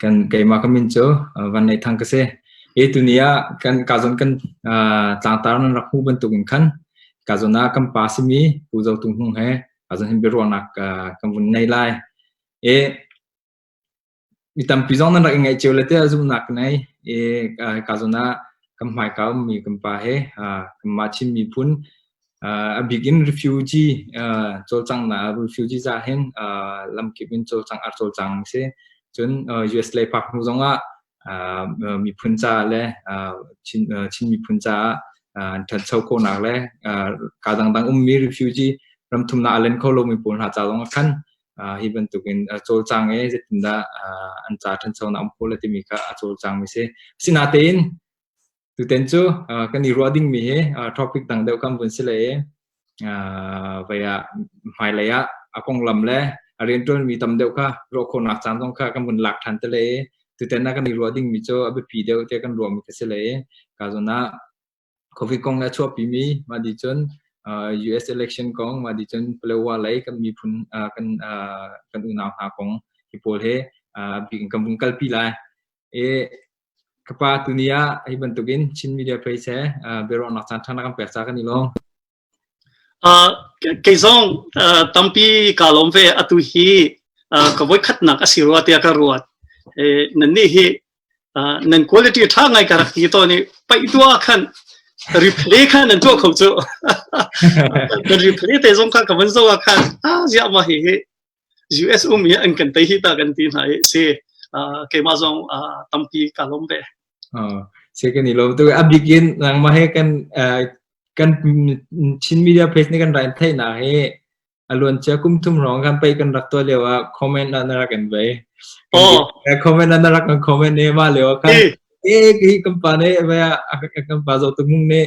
kan keimah ka min cu Van Nei Thang ka si. Hi tuni ah kan kazon kan tlangtar nan rak hmu bantuk in khan kazon ah kan pa simi Pu Zo Tung Hung he kazon hin biaruahnak kan vun nei lai. E mi tampi zong nan rak ingaih cio le te zumnak nei e kazon ah kan hmaika mi kan pa he kan ma chim mi phun a bik in refugee cawlcanghnak refugee ca hin lamkip in cawlcang ar cawlcang a si cun US lei park hnu zong ah miphun ca le Chin miphun caah an ṭhancho khawhnak le kaa dangdang ummi refugee ram thumnak a len kho lomi pawl hna ca zong ah khan hi bantuk in cawlcang e zeitindah an ca ṭhanchonak um khawh le timi kha a cawlcang mi si. Asinatein Tuten cu kan i ruah dingmi hi topic dang deuh kan vun si le vai ah hmailei ah a konglam le a rianṭuanmi tam deuh kha ruah khawhnak caan zong kha kan vun lak ṭhan te le tutan ah kan i ruah dingmi cu a biapi deuh tiah kan ruahmi ka si le kazon ah Covid kong le a chuahpimi mah di cun US election kong mah di cun Palewa lei kan miphun kan kan unau hna kong hi pawl he bik in kan vung kalpi lai. E Ka pa tuni ah hi bantukin Chin Media Place he uh, biaruahnak caan ṭhana kan pek ca kan i lawm. Uh, kei zong uh, tampi ka lawm ve atu hi uh, ka voi khatnak a si rua tiah ka ruat. Eh, nan nih hi uh, nan quality ṭha ngai ka rak ti to ni paih tua khan replay kha nan tuah kho cu. nan replay te zong kha ka van zo ah khan ah ziah ma hi hi US um i an kan tei hi ta kan ti hna i si keimah zong tampi ka lawm ve. Sai kan i lawm tu a bikin nangmah he kan kan Chin media page ni kan rai thai na he aluan chia kum thum rong kan pai kan rak to lewa comment la na rak kan bai comment la na rak kan comment ne ma lewa kan e ki kampa ne ba kampa zo tu mung ne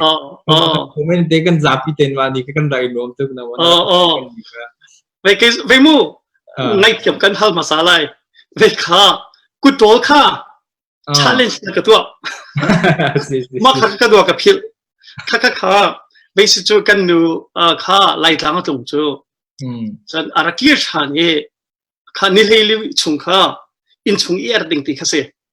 comment te kan zapi ten wa ni kan rai lom tu na wa vei ke vei mu ngaithiam kan hal hmasa lai vei kha kutol kha challenge na ka tuah ma kha ka duwa ka phil kha kha kha vei si cu kan nu kha laitlang tung cu chan araki shan e kha ni hlei chung kha in chung i er ding ti kha si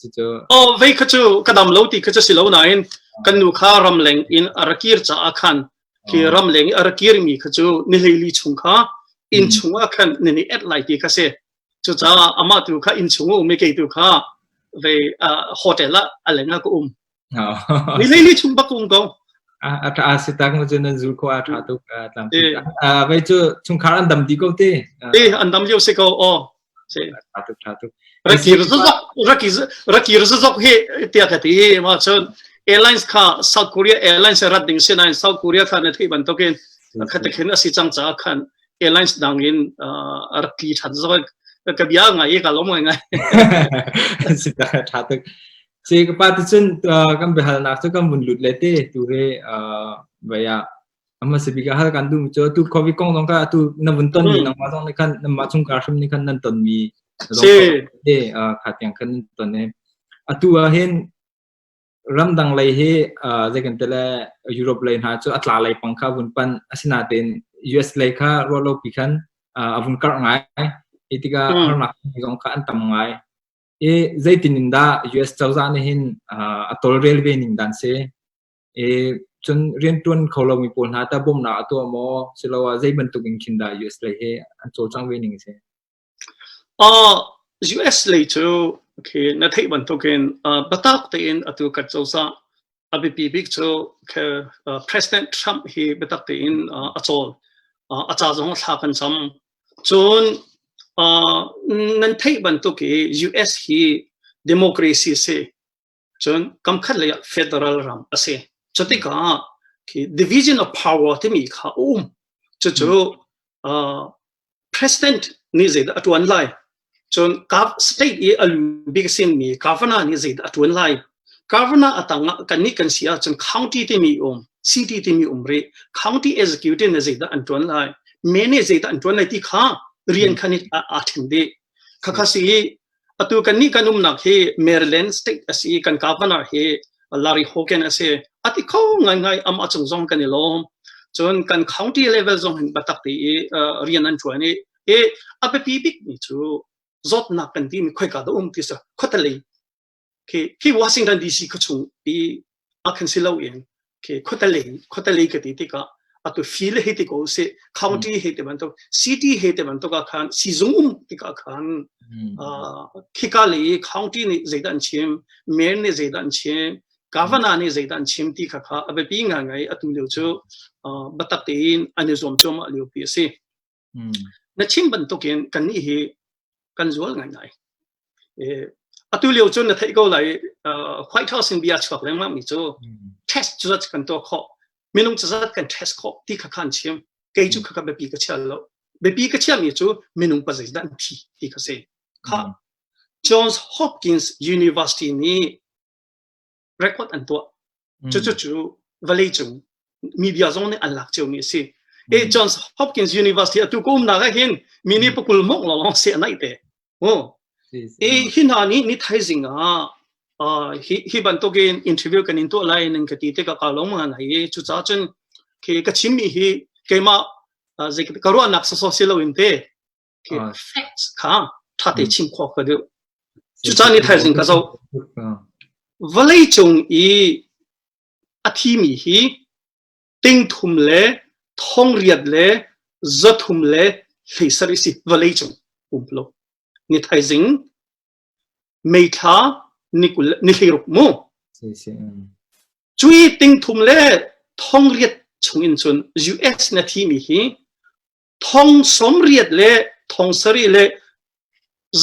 cucu oh vei kha cu ka dam lo ti kha cu si lo nain kan nu kha ram leng in a ra kir caah khan ki oh. ram leng i a ra kir mi kha cu ni hlei chung kha inn mm. chung ah khan ni ni et lai ti kha si cucaah amah tu kha inn chung um i kei tu kha ve hotel ah alenga ka um Lili chung bakung ko. A tha si tak ma cun zul ko a tha tuk tlang. A vai cu chungkhar an dam di ko te. Eh an dam liu se ko o. Se. Tha tuk tha tuk. Raki rzazok raki raki rzazok he tia ka ti he ma chun airlines kha South Korea airlines rat ding se na South Korea kha ne thei ban tokin khatakin asi chang cha khan airlines dangin arki than zo ka bia ngai ka lom ngai ngai si ta tha tuk Ci ka pa ticun kan biahalnak cu kan vun lut le te tu he vai ah amma se bika hal kan du cho tu covid kong zong ka tu na vun ton mi nang ma zong ni khan nan ma chung ka hrim ni khan nan ton mi te kha tiang khan ton ne atu a hin ramdang lei hi zei kan tele Europe lei hna chu atla lei pang kha vun pan asina ten US lei kha ro lo pi khan avun kar ngai itika harnak zong kha an tam ngai i zeitin in dah US cozah nih hin a tawlrel ve ning dan si i cun riantuan kho lomi pawl hna ta bawmhnak a tuah maw siloah zei bantuk in khin dah US lei he an cawlcang ve ning si uh, US lei cu khi na theih bantukin uh, batak tein atu kan cozah a biapi bik cu president Trump hi biatak tein a cawl a ca zong thla kan cam Cun nan theih bantuk i US hi democracy a si. Cun kamkhat lei ah federal ram a si. Cu tikah khi division of power timi kha a um. Cucu president nih zeidah a ṭuan lai Cun kap state i a lu bik sinmi governor nih zeidah a ṭuan lai? Governor a tang ah kannih kan si ahcun county timi um, city timi um rih. County executive nih zeidah an ṭuan lai? Men nih zeidah an ṭuan lai ti kha rian khan aa ṭhen dih. Khakha si atu kannih kan umnak hi Maryland state asi kan governor hi Larry Hogan asi ati kho ngaingai amah chung zong kan i lawm cun kan county level zong hin batak ti i rian an ṭuan i i a biapi bikmi cu zawtnak kan timi khoika dah um ti sa khawtalei khi khi Washington DC kha chung i a kan si lo in khi khawtalei khawtalei ka ti tikah atu file hei ti ko se county hei te bantuk city hei te bantuk ah khan sizung um tikah khan khika le county nih zeidah an chim mayor nih zeidah an chim governor nih zeidah an chim ti kha kha a biapi ngai ngai atu lio cu batak tein an i zuam cuahmah lio pi a si Na chim bantukin kannih hi kan zual ngaingai. Atu lio cun na theih ko lai White House in bia chuak lengmang mi cu test cu zat kan tuah khawh minung cu zat kan test khawh ti kha khan chim kei cu kha biapi ka chia lo biapi ka chia mi cu minung pa zeidah an thi ti kha si kha Johns Hopkins University nih record an tuah mm. cucu valley cung mi bia zong nih an lak cio mi a si e mm. Johns Hopkins University atu ko umnak ah hin mi ni pakul mok lo long se nai te o e hi na ni ni thaizing ah hi hi bantokin interview kan in to lai ning ka ti te ka ka long ma nai chu cha chen ke ka chin mi hi keima zeik ka ro nak so so se lo in te facts kha ṭha te chim khawh ka duh. Cucaan i thaizing ka zoh. Vawlei cung i a thimi hi tingthum le thongriat le zathum le hleisar i si vawlei cung pumplo. Ni thaizing meithla ni kul ni hleiruk mu. Cui tingthum le thongriat chungin cun US na thimi hi thong sawmriat le thong sarih le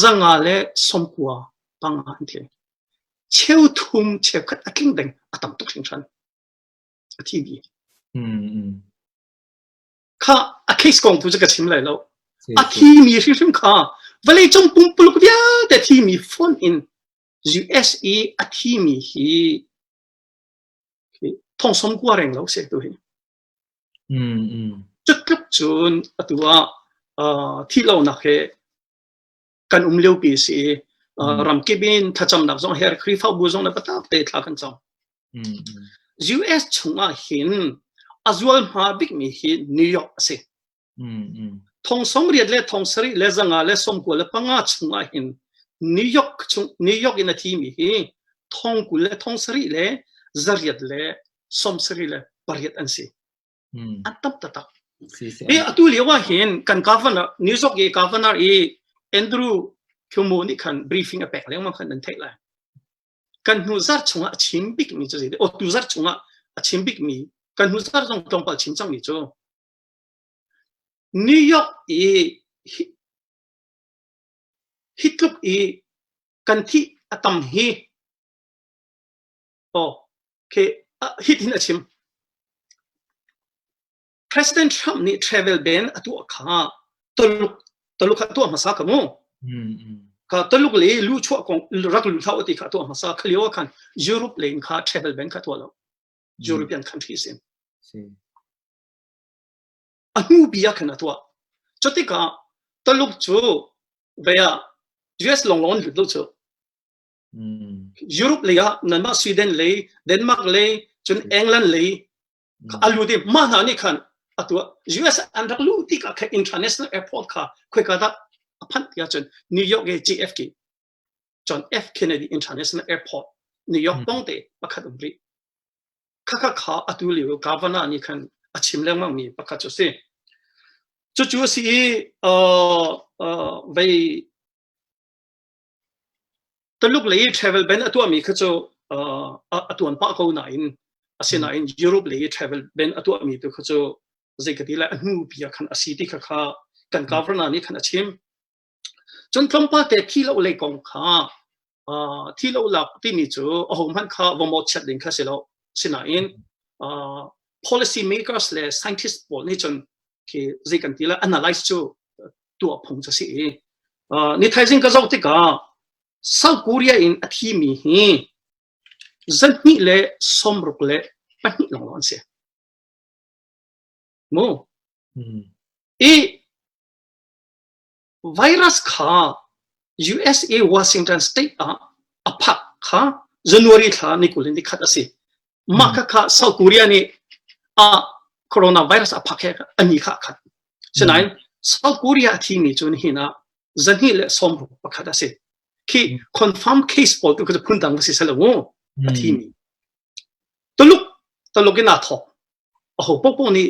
zanga le sawmkua panga an thi cheu thum cheu khat a tling deng a tam tuk hringhran a thi bi kha a case kong tu cu ka chim lai lo a thi mi hrimhrim kha vale cung pumpuluk vialte thi mi phone in USA a thi mi hi thong som kua reng lo se tu hi Cutluk cun atu ah thih lonak hi kan um liopi a si i ramkip in thlacamnak zong her Khrihfabu zong le biatakte thla kan cam. US chung ah hin a zualhma bikmi hi New York a si. Thong sawmriat le thong sarih le zanga le sawmkua le panga chungah hin New York chung New York in a thimi hi thong kul le thong sarih le zariat le sawmsarih le pariat an si. An tam tatak. Hi atu lio ahhin kan governor New York i governor i Andrew Cuomo nih khan briefing a pek lengmang khan an theih lai. Kan hnu zar chungah a chim bikmi cu zai o tu zar chungah a chim bikmi kan hnu zar zong tlawmpal chim cangmi cu New York i hi tluk i kan thih a tam hi hitin a chim. President Trump nih travel ban a tuah kha Tuluk Tuluk kha tuah hmasa ka mu. Ka Tuluk le lu chuah kong rak lu thau ti kha tuah hmasa kha lio khan Europe le in kha travel ban kha tuah lo. European countries in. a hnupi ah khan a tuah. Cutikah Taluk cu vei ah US lawnglawng an lut lo cu. Mm. Europe lei ah nanmah Sweden lei, Denmark lei, cun England lei a lut i mah hna nih khan a tuah. US an rak luh tikah kha international airport kha khoika dah a phanh tiah cun New York i JFK John F. Kennedy International Airport, New York hmm. pawng te pakhat um rih. Khakha kha atu liu governor ni khan a chim lengmang mi pakhat cu si. Cu cu si i uh, uh, vei taluk lei travel ban atua mi kha cu uh, atuan pa ko na in asina in Europe lei travel ban atua mi tu kha cu zeikati la anu pia khan asi ti kha kha kan governor ni khan a chim Cun tlawmpal te thi lo lei kong kha thi lo lak timi cu ahohmanh kha va mawhchiat ding kha si lo. Sinain policy makers le scientists pawl nih cun khi zei kan ti lah analyze cu tuah phung cu si i ni thaizing ka zoh tikah South Korea in a thimi hi zarhhnih le sawmruk le pahnih lawng an si. Mu. I Virus kha USA Washington State ah a phak kha January thla ni kul in ni khat a si. Mah kha kha South Korea nih a coronavirus a phak he ani kha khat. Sinain South Korea a thimi cu nihin ah zahnih le sawmruk pakhat a si. Khi confirm case pawl tu cu phun dang va si selo mu a thimi. Tuluk Tuluk in aa thawk. A ho popo nih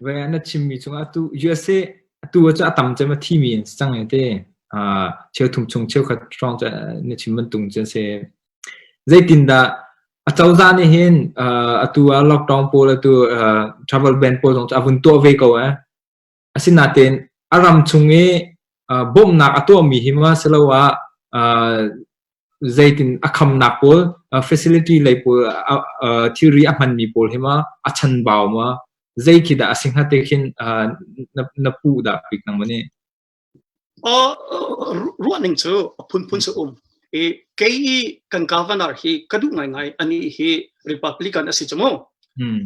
Ve an a chimmi cungah atu USA atu cu a tam cem a thimi an si cang e te. Uh, cheu thum chung cheukhat hrawng cu na chim bantung cu an si. Zeitindah acozah nih hin uh, atu ah lockdown pawl atu uh, travel ban pawl zong cu a vun tuah ve ko eh. Asinain a ram chung i bawmhnak a tuahmi hi ma siloah zeitin a khamnak pawl facility lei pawl thilri a hmanmi pawl hi ma a chanbau ma zei khi dah a si hnga te khin na puh dah pik nang maw nih? ruahning cu a phunphun si um i kei i kan governor hi ka duh ngaingai ani hi republican a si cu mu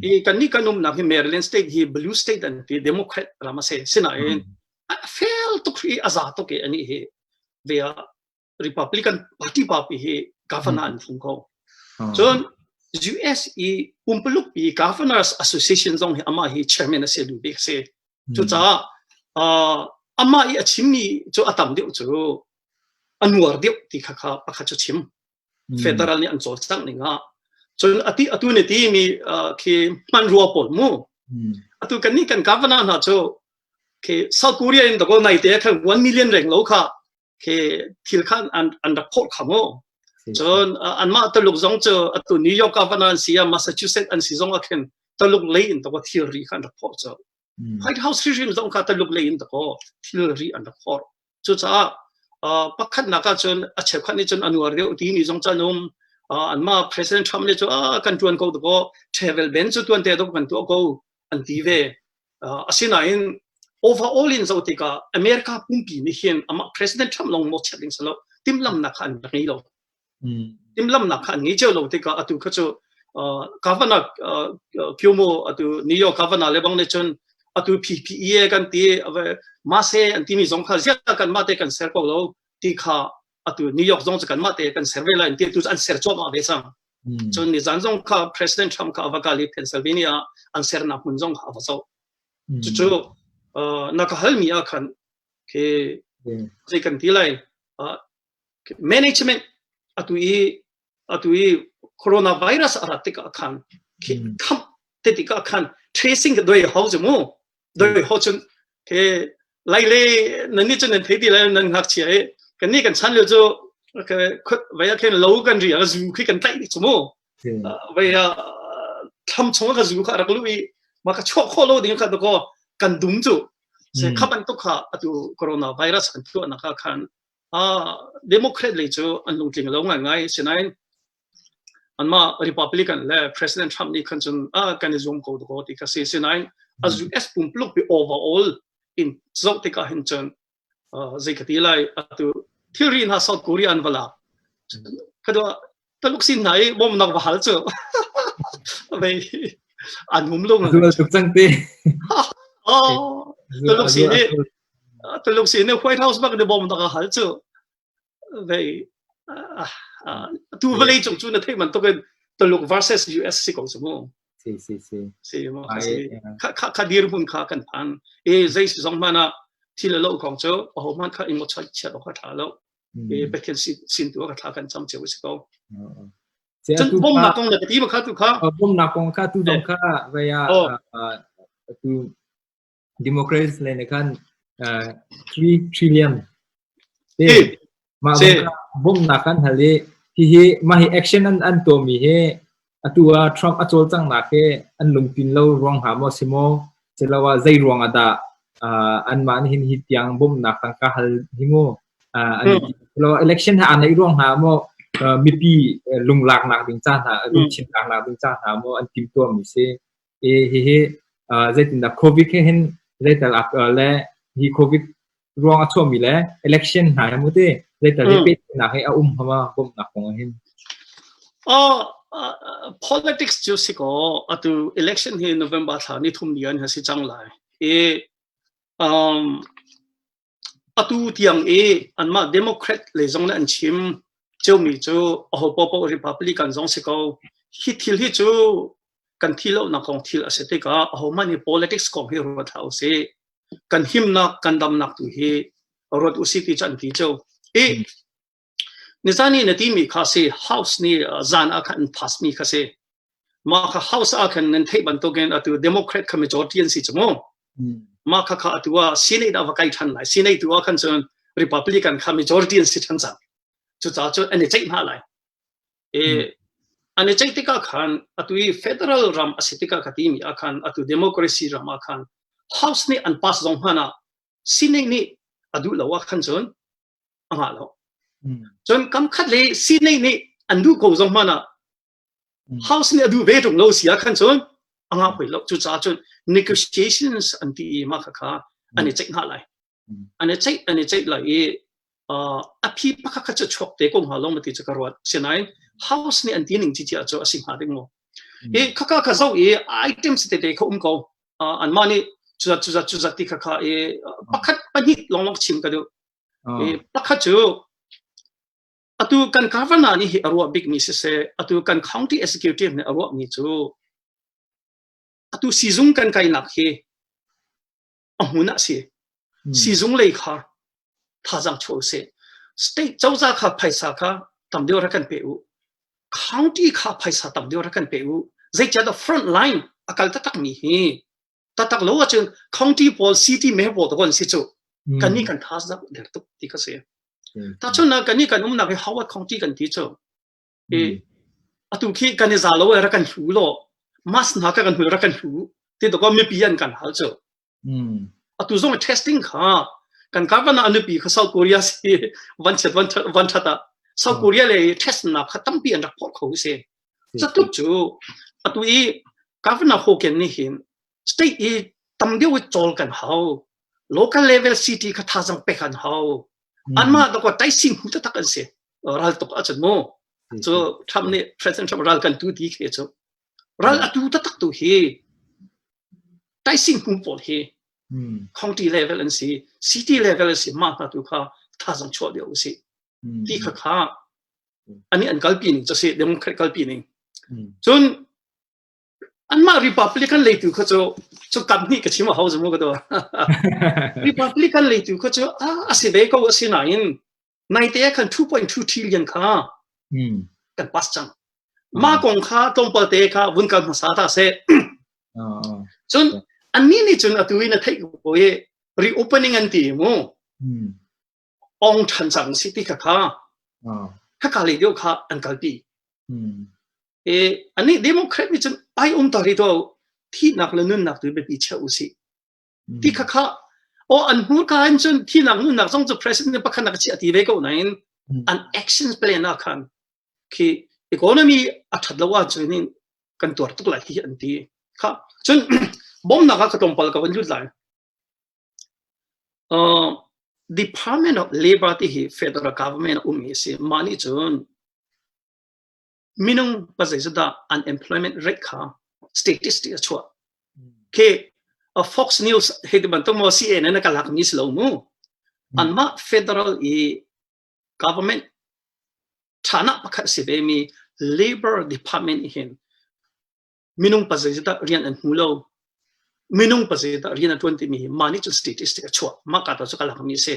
i kan ni kan umnak hi maryland state hi blue state an ti democrat ram a si sinain a fel tuk hi a za tuk i ani hi ve ah Republican party party hi governor an thum ko. Ah. Cun US i pumpaluk i governors association zong hi amah hi chairman a si duh bik si. Cucaah amah i a chimmi cu a tam deuh cu a nuar deuh ti kha kha pakhat cu chim. Federal nih an cawlcangh ning ah. Cun ati atu ne ti mi khi hman rua pawl mu. Atu kan nih kan governor hna cu khi South Korea in to nai te khan 1 million reng lo kha khi thil khan an an rak phawt kha maw cun anmah taluk zong cu atu new york ah van an si a massachusetts an si zong ah khin taluk lei in to thilri kha an rak phawt cu white house hrim zong kha taluk lei in to thilri an rak phawt cucaah pakhatnak ah cun a chekhwan nih cun anuar deuh timi zong cun um anmah president trump nih cu a kan tuan ko to travel ben cu tuan te to kan tuah ko an ti ve. Uh, asinain overall in zoh tikah America pumpi nih hin amah President Trump long mawh chet ding salo timlamnak kha an rak ngei lo. Mm. Timlamnak kha an ngei cio lo tikah atu kha cu uh, governor uh, Cuomo atu New York governor lebang ne chun atu PPE kan ti mase an ti mi zong kha zial kan mate kan ser ko lo ti kha atu New York zong cu kanmah te kan ser ve lai ti tu an ser chawma ve sang hmm. cun ni zan zong kha President Trump kha ava kali Pennsylvania an sernak hmun zong ava zo hmm. cucu na ka hal mi a khan ke zei kan ti lai management atu i atu i coronavirus a rat tikah khan kham te tikah khan tracing ka doi hau zu mu doi ho chun ke lai le nan ni chun nan thei ti lai nan ngak chia e kan ni kan chan lil chu ke khot vaya khen lo kan ri a zu khi kan tlai ni chu mu vaya tham chung ka zu kha rak lu i ma ka cho kho lo ding kha to kan dum chu se khaban to kha atu coronavirus kan tu na ka khan Democrat lei cu an lungtling lo ngaingai. Sinain anmah Republican le President Trump nih khan cun kan i zuam ko dakaw ti kha si. Sinain a US pumpuluk pi overall in zoh tikah hin cun zei ka ti lai atu thilri hna South Korea an va lak. Khadua Taluk sin hna i bawmnak va hal cu vei an hum lung Zul tuk cang ti. Oh, Taluk sin i Taluk sin i White House bak ni bawmnak a hal cu vei tu vawlei cung cu na theih man tuk in Taluk versus US si ko su mu. Si si si. Si mu. Kha dir mun kha kan phan. E zei si zong mana thil lo kong cu ho man kha ingo chai chiat ok tha lo. pe Pathian sin tu ka thla kan cham cheu si ko chan bawmnak kong na ka ti ma kha tu kha bawmnak kong kha tu dong kha vaya tu democracy le ne khan 3 trillion te ma bom na kan hali hi hi ma hi action an an to mi he Atu ah Trump a cawlcanghnak hi an lungtlin lo ruang hnga maw si maw siloah zei ruang ah dah uh, anmah nih hin hi tiang bawmhnak tangka hal hi mu uh, an hmm. siloah election ha an neih ruang hnga maw uh, mipi lunglaaknak ding ca hna lungchinlaknak ding ca hna maw an timtuam mi si hihi zeitindah Covid he hin zeital le hi Covid ruang a chuahmi le election hna he muti zeital i pehnak he a um hama bawmhnak kong hin politics cu si ko atu election hi November thla ni thum ni an ha si cang lai i um atu tiang i anmah Democrat lei zong nih an chim ciomi cu aho paohpaoh Republican zong si ko hi thil hi cu kan thih lonak kong thil a si tikah ahohmanh hi politics kong hi ruat hlah usih kan himnak kan damnak tu hi ruat usih ti cu an ti cio i Nizani na timi kha si house ni zan ah khan pass mi kha si ma kha house ah khan nan thei bantukin atu democrat khami chorti an si chumo ma kha kha atu a senate a kai than lai senate tu khan chun republican khami chorti an si than sa chu cha chu an chei ma lai e an chei tika khan atu federal ram asitika khatimi akhan atu democracy ram akhan house ni an pass zong hana senate ni adu lawa khan chun a ngah lo. Cun kamkhat le sinai nih an duh ko zong hmanh ah house nih a duh ve ṭung lo si ah khan cun a ngah hoi lo. Cucaah cun negotiations an ti i mah kha an i ceih hna lai. An i ceih an i ceih lai i a phi pakhat kha cu chuak te ko hnga long ti cu ka ruat. Sinain house nih an ti ning ci cia cu a si hnga ding maw. Hi khaka ka zo i items te te kha um ko. anmah nih cuzat cuzat cuzat ti khakha i pakhat pahnih lawnglawng chim ka duh i pakhat cu atu kan governor nih hi a ruah bikmi siseh atu kan county executive nih a ruahmi cu atu sizung kan kainak hi a hmun ah si sizung lei khar thazang chaw se state cozah kha phaisa kha tam deuh ra kan pe u county kha phaisa tam deuh ra kan pe u zeicadah front line akal tatak mi hi tatak lo acun county pawl city me bo to gon si chu kan ni kan thazak der tuk ti ka se ta chun na kan ni kan um na ke howard county kan ti chu i atu khi kan i zal lo rak kan hlu law mask hna kha kan hmu rak kan hlu ti tok mipi an kan hal cu atu zong testing kha kan kavan ah nupi kha South Korea si van chet van van that ah South Korea le test na kha tampi an rak phol kho se satuk chu atu i governor Hogan ni hin state i tam deu chol kan hau local level city kha thazang pe kan hau an ma to ko tai sing hu ta tak an se raltuk a cun mu cu Trump nih President Trump ral kan tu ti khi cu ral a tu taktak tu hi taising kum pawl hi county level an si city level an si ma hna tu kha thazang chuah dia u si ti kha kha ani an kalpi ning cu si democrat kalpi ning cun anmah republican leitu kha cu cu kam hnih ka chim a hau zamu ka to republican leitu kha cu a si ve ko a si nain Naite ah khan 2.2 trillion kha kan pass cang. Mah kong kha tlawmpal te kha vun kal hmasa ta seh. Cun annih nih cun atu in a theih ko i reopening an ti mu. Ong than cang si ti kha kha haka le deuh kha an kalpi. E anih democrat nih cun ai um ta ri to thihnak le nunnak tu biapi che u si. ti khakha o an hmurka in cun thinak nunnak zong cu president ne pakhat nak chiah ti ve ko nain an action plan ah khan khi economy a that lo wa cun in kan tuar tuk la hi an ti kha cun bom nak ka tlongpal ka van lut lai uh, department of labor ti hi federal government um hi si mani cun minung pa zeizat dah unemployment rate kha statistic a chuah khi a fox news hei ti bantuk mo cn na ka lak mi si lo mu an mah federal i government thana pakhat si ve mi labor department hin minung pa zeizat dah rian an hmu lo minung pa zeizat dah rian a tuan ti mi hi ma nih cun statistic a chuah ma ka to chu ka lak mi si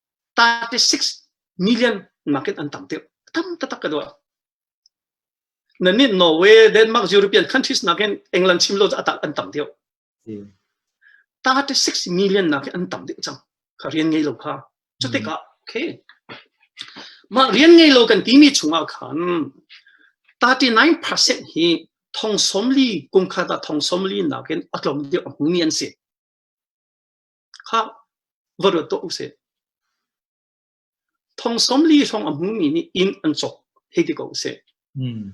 36 million market an tam tuk tam tatak ka duah na nih Norway Denmark European countries nakin England chim lo atak an tam tuk 36 million nakin an tam dik cang ka rian ngei lo kha cu tikah okay mah rian ngei lo kan timi chungah khan 39% hi thong somli kumkhat thong somli nakin atlom dik mi an si kha va ruat tuah usih. Thong sawmli hrawng a hmumi nih inn an cawk hei ti ko usih. Hmm.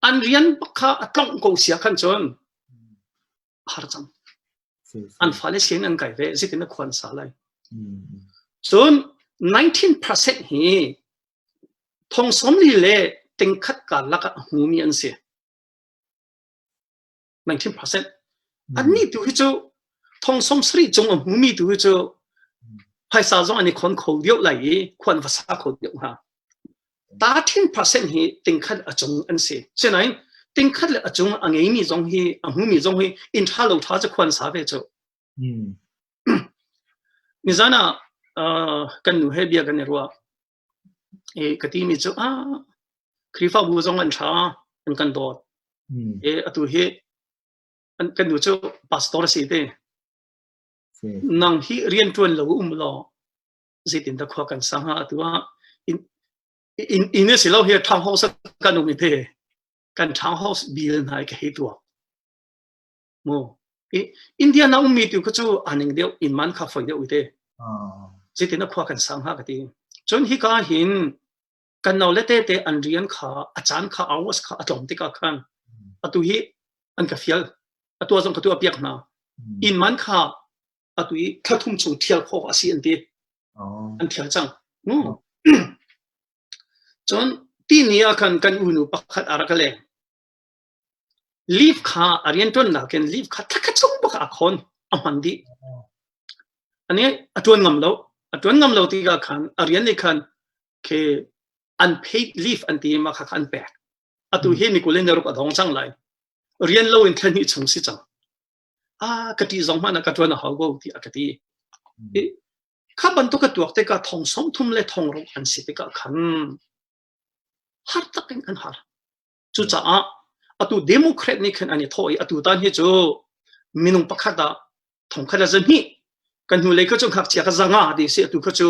An rian pakha a tlawng ko sia khan cun har cang. An fale sin an kai ve zitin a khuan sa lai. Cun 19% hi thong sawmli le tingkhat ka lakah hmumi an si. 19%. Annih tu hi cu thongsong sari cung a hmumi tu hi cu phaisa zong an i khon kho deuh lai i khuan va sa kho deuh hna. Ta thin percent hi tingkhat a cung an si. Sinain tingkhat le a cung a ngeimi zong hi a hmumi zong hi in tha lo tha cu khuan sa ve cu. Nizana kan nu he bia kan i ruah. ka timi cu Khrihfabu zong an ṭha, an kan dawt. Atu hi kan nu cu pastor a si te. Nang hi rianṭuan lo um law zeitindah khua kan sang hnga atu ah inn a si lo hi townhouse kan um i te kan townhouse bill hna hi ka hei tuak. mu i india na ummi tu kha cu aning deuh inman kha foi deuh te citin a khua kan sang ha ka ti cun hi ka hin kan no le te te an rian kha a caan kha hours kha a tlawm tikah khan atu hi an ka fial atu zong ka tu a piak hna in man kha atu i thum chung thial kho asi an ti an thial cang cun ti ni ah khan kan unu pakhat ara ka leng Leaf kha a rianṭuannak in leaf kha thla khat chung bak ah a khawn, a hman dih. A nih a ṭuan ngam lo. A ṭuan ngam lo tikah khan a rian nih khan khi unpaid leave an ti i mah kha kha an pek. Atu hi nikul in na ruk a dong cang lai. Rian lo in thla hnih chung si cang. Ah, ka ṭih zong hmanh ah ka ṭuan a hau ko tiah a ka ti. I kha bantuk a tuak tikah thong som thum le thong ruk an si tikah khan har tak in an har. Cucaah atu Democrat nih khan an i thawh i atu tan hi cu minung pakhat ah thongkhat a zahnih kan hnulei kha cu ngakchia ka zanga ti si atu kha cu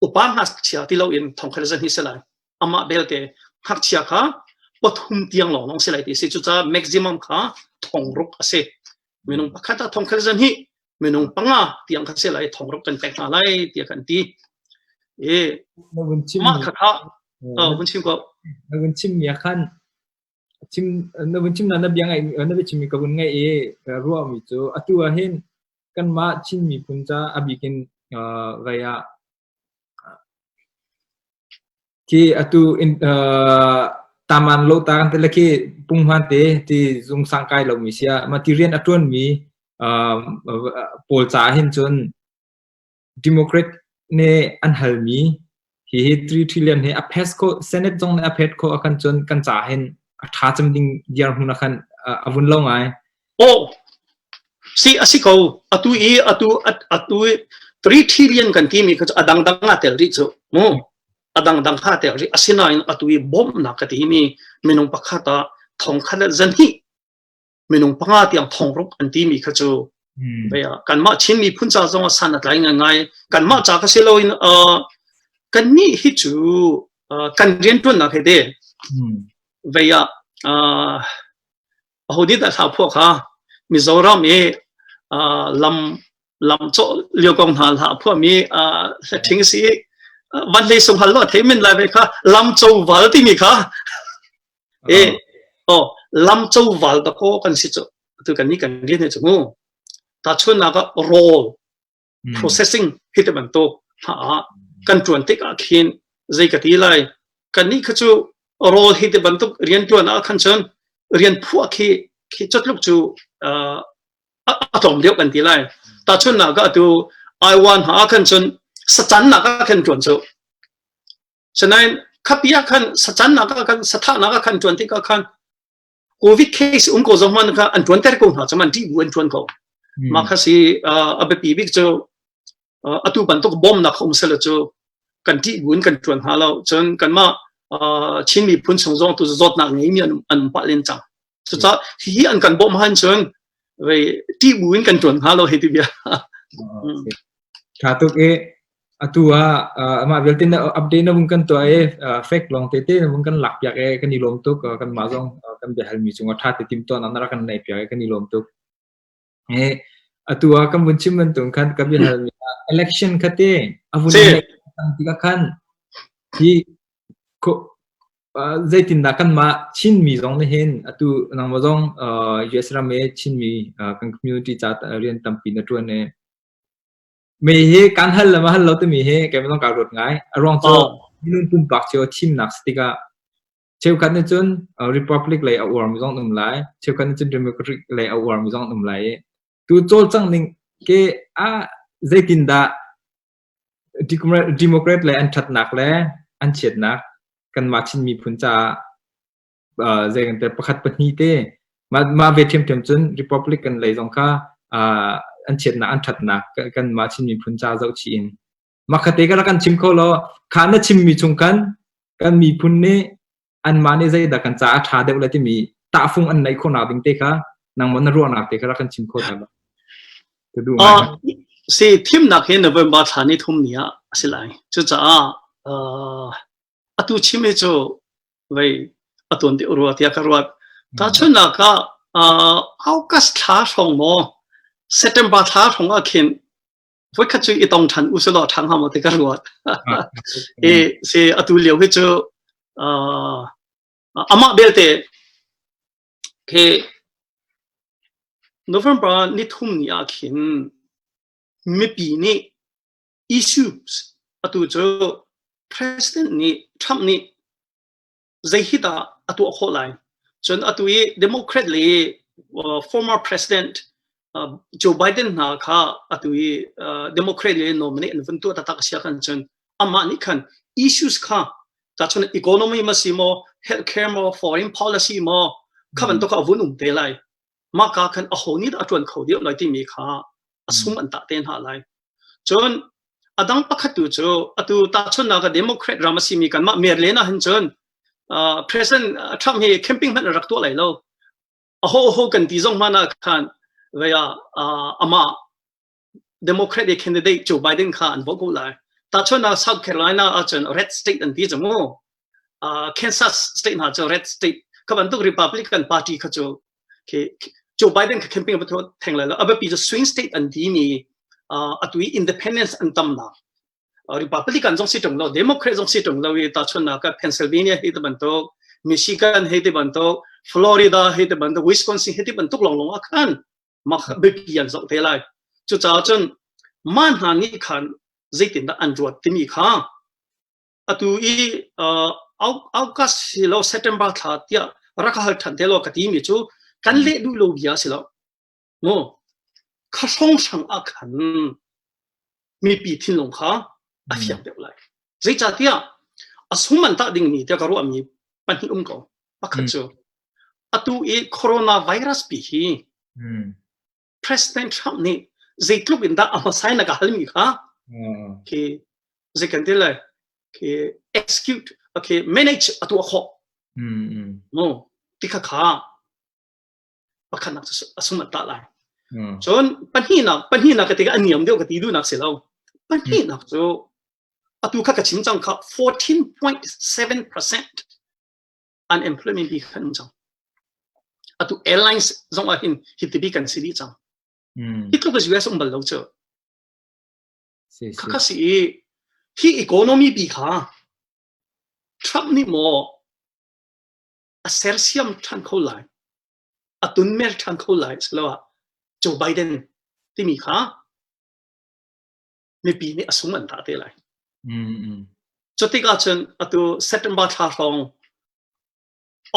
upa ngakchia ti loin thongkhat a zahnih si lai amah belte ngakchia kha pathum tiang lawnglawng si lai ti si cucaah maximum kha thong ruk a si minung pakhat ah thongkhat zahnih minung panga tiang kha se lai thong rak kan pek hna lai tiah kan ti i mah kha kha vun chim ko na vun chim ya khan chim na vun chim na na biang ai na bi chim ka vun ngai i ruwa mi chu atu a hin kan ma chin mi phun cha abikin vaya Khi atu taman lo taang te le khi punghman te ti zung sang kai lomi sia material a ṭuanmi pawl ca hin cun Democrat nih an halmi hihi 3 trillion hi a phes kho Senate zong nih a phet kho a kan cun kan ca hin a ṭha cem ding dirhmun a kan a vun lo ngai. Aw, si a si ko. Atu i atu atu i three trillion kan timi kha cu a dangdang a tel rih cu. Mu a dangdang kha tel rih. Asinain atu i bawmhnak ka timi minung pakhat ah thongkhat le zan hi minung panga tiang thongruk an timi kha cu Baya, kanmah Chin miphun ca zong a san a tlai ngai kanmah ca ka si lo in kan ni hi cu kan rian tuan nak he de vaya ahodik dah thlah phuah kha Mizoram i lam lam cawh lio kong hna hlah phuah mi thing si van hlei sung hal lo thei min lai ve kha lam cho wal timi kha e o lam cho wal ta ko kan si chu tu kan ni kan ni ne chu mu ta chun na ka roll processing hi ti bantuk hna ah kan tuan tik ah khin zei ka ti lai kan nih kha cu rol hi ti bantuk rian tuan ah khan chun rian phuah khi khi chatluk cu atom deuh kan ti lai ta chun na ga tu ai wan ha khan chun sachan na ka khan tuan chu sanain khapia khan sachan na ka khan satha na ka khan tuan ti ka khan Covid case um ko zong man kha an tuan ter ko hna cham an ṭih bu an tuan ko. Mah kha si a biapi bik cu atu bantuk bawmnak um sele cu kan ṭih bu in kan tuan hna lo. Cun kanmah Chin miphun chung zong tu zawtnak ngeimi an um pah len cang. Cucah hi an kan bawm han cun ṭih bu in kan tuan hna lo hei ti bia. Ṭha tuk i Atu ah amah vialte na update na vung kan tuah i fake lawng tete na vung kan lak piak i kan i lawm tuk kan mah zong kan biahal mi cung a ṭha te tim tuan na rak kan nei piak i kan i lawm tuk e atu ah kan vun chim bantuk khan ka biahal mi election khate a vun tikah khan hi zeitin da kan ma chin mi zong ne hin atu nang ma zong US ram e chin mi kan community cha rian tampi na tuan e Me hi kan hal le ma hal lo timi hi keimah ka ruat ngai. A ruang cu minung pumpak cio thimnak si tikah cheukhat nih cun republic lei a uar mi zong um lai cheukhat nih cun democratic lei a uar mi zong um lai i tu cawlcang ning ke a zeitin dah democrat le an thatnak le an chiatnak kanmah Chin miphun caah uh, zei kan te pakhat pahnih te mah mah ve thiam thiam cun republican lei zong kha uh, an chiatnak an thatnak kan mah chin miphun cha zoh chi in makhate ka kan chim kho lo kha na chim mi chung khan kan miphun ne an ma ne zei da kan cha a tha deuh le timi tahfung an nei khona ding te kha nang mo na ruahnak te kha kan chim kho ta uh, si thim nak hi november thla ni thum ni a si lai cucaah uh, atu chim hi cu vei a tuan deuh rua tiah ka ruat tahchunnak ah august thla hrawng maw september thla hrawng ah khin voikhat cu i tong ṭhan u sulaw ṭhang ha maw ti ka ruat i si atu lio hi cu amah belte ke november ni thum ni ah khin mipi nih issues atu cu president nih Trump nih zei hi dah a tuah khawh lai cun atu i Democrat le former president Joe Biden hna kha atu i Democrat le nominate an vun tuah taktak a sia kan cun amah nih khan issues kha ta chun economy ma si maw healthcare maw foreign policy maw kha bantuk a vun um te lai mahka khan aho nih dah a ṭuan kho deuh lai timi kha a sum an tah te hna lai. Cun a dang pakhat tu cu atu tahchunnak ah Democrat ram a simi kanmah Maryland ah hin cun uh, President Trump hi camping hmanh a rak tuah lai lo. Aho aho kan ti zong hmanh ah khan vea uh, amah Democrat e candidate Joe Biden kha an vote ko lai. Tahchun ah South Carolina ahcun red state an ti cu mu. Kansas state hna cu red state ka bantuk Republican party kha cu Joe Biden ka campaign ba theng lai lo abapi cu swing state an ti ni atui independence an tam na Republican zong si tung lo Democrat zong si tung lo i tahchun na ka Pennsylvania hi te bantuk Michigan hi te bantuk Florida hi te bantuk Wisconsin hi te bantuk long long akhan maka biapi an zoh te lai cucaah cun man hna nih khan zeitindah an ruat timi kha atu i august si lo september thla tiah raka hal than te lo ka ti mi cu kan le duh lo bia si lo mu kha song sang ah khan mipi thinlung kha a fiang deuh lai. Zeicahtiah a sung man tah dingmi tiah ka ruahmi pahnih um ko. Pakhat cu atu i coronavirus pi hi President Trump nih zeitluk in dah a hmasai na ka halmi kha khi zei kan ti lai khi execute okay manage atu khawh no ti kha kha pakhatnak a sunat ta lai. Hmm. Cun pahnihnak pahnihnak ka tikah a niam deuh ka ti duhnak si lo. Pahnihnak cu atu kha ka chim cang kha 14.7% unemployment bi kan cang. Atu airlines zong ah hin hitibi kan si dih cang. Hmm. Hi tluk US um bal lo cu. Kaka si i hi economy bi kha Trump nih maw a sersiam ṭhan kho lai, a tunmer ṭhan kho lai asiloah Joe Biden timi kha mipi nih a sung an tah te lai. Mm-hmm. Cu tikah cun atu September thla hrawng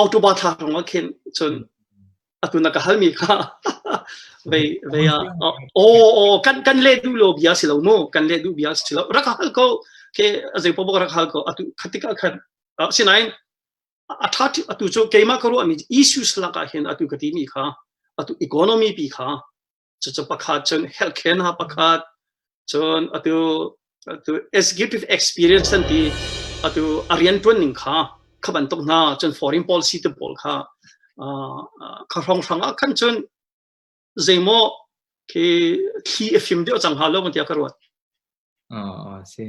October thla hrawng ah khin cun atu na ka halmi kha vei vei a oh oh kan kan le du lo bia si lo mu kan le du bia si lo rak hal ko ke azei po rak hal ko atu khatika khan sinain a ṭha atu cu keimah ka ruahmi issues lakah hin atu ka timi kha atu economy pi kha cucu pakhat cun health care hna pakhat cun atu atu executive experience an ti atu a rianṭuan ning kha kha bantuk hna cun foreign policy te pawl kha kha hrawnghrang ah khan cun zeimaw khi thli a fim deuh cang halo tiah ka ruat ah si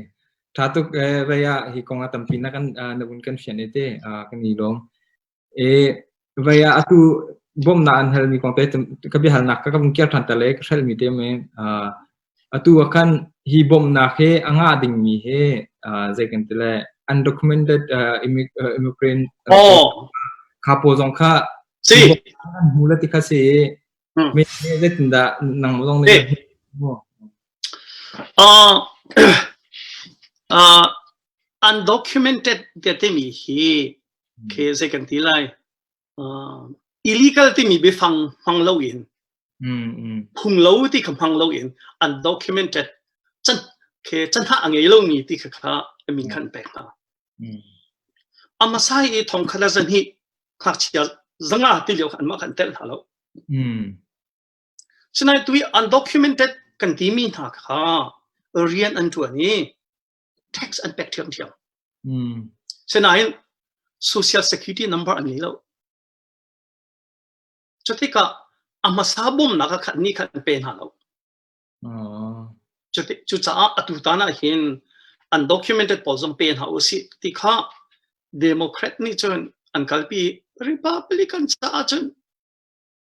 tha tuk eh vaya hi kong a tampi na kan na un kan fian ete kan ni lom e vaya atu bom na an hal mi kong te ka bi hal nak ka ka kir than ta le ka shel mi te me Atu ah khan hi bawmhnak hi a ngah dingmi hi uh, zei kan ti le undocumented uh, immi- uh, immigrant uh, Oh. kha pawl zong kha si an hmu le ti kha si i Hmm. mi mi zeitindah nang zong nih uh, uh, undocumented te timi hi khi zei kan ti lai illegal timi biafang hmang loin phung lo ti kha hmang loin undocumented can khe canha a ngei lomi ti kha kha amin khan pek hna amasai i thong khala zan hi ngakchia zanga ti leo khan ma kan tel hna lo sinai tui undocumented kan ti mi hna kha rian an tuan i tax an pek ṭhiamṭhiam. Mm. Sinain social security number an ngei lo. Cu tikah a hmasa bawmnak ah khan ni khan an pe hna lo. Oh. Cucaah atu tan ah hin undocumented pawl zong pe hna u si ti kha Democrat nih cun an kalpi Republican caah cun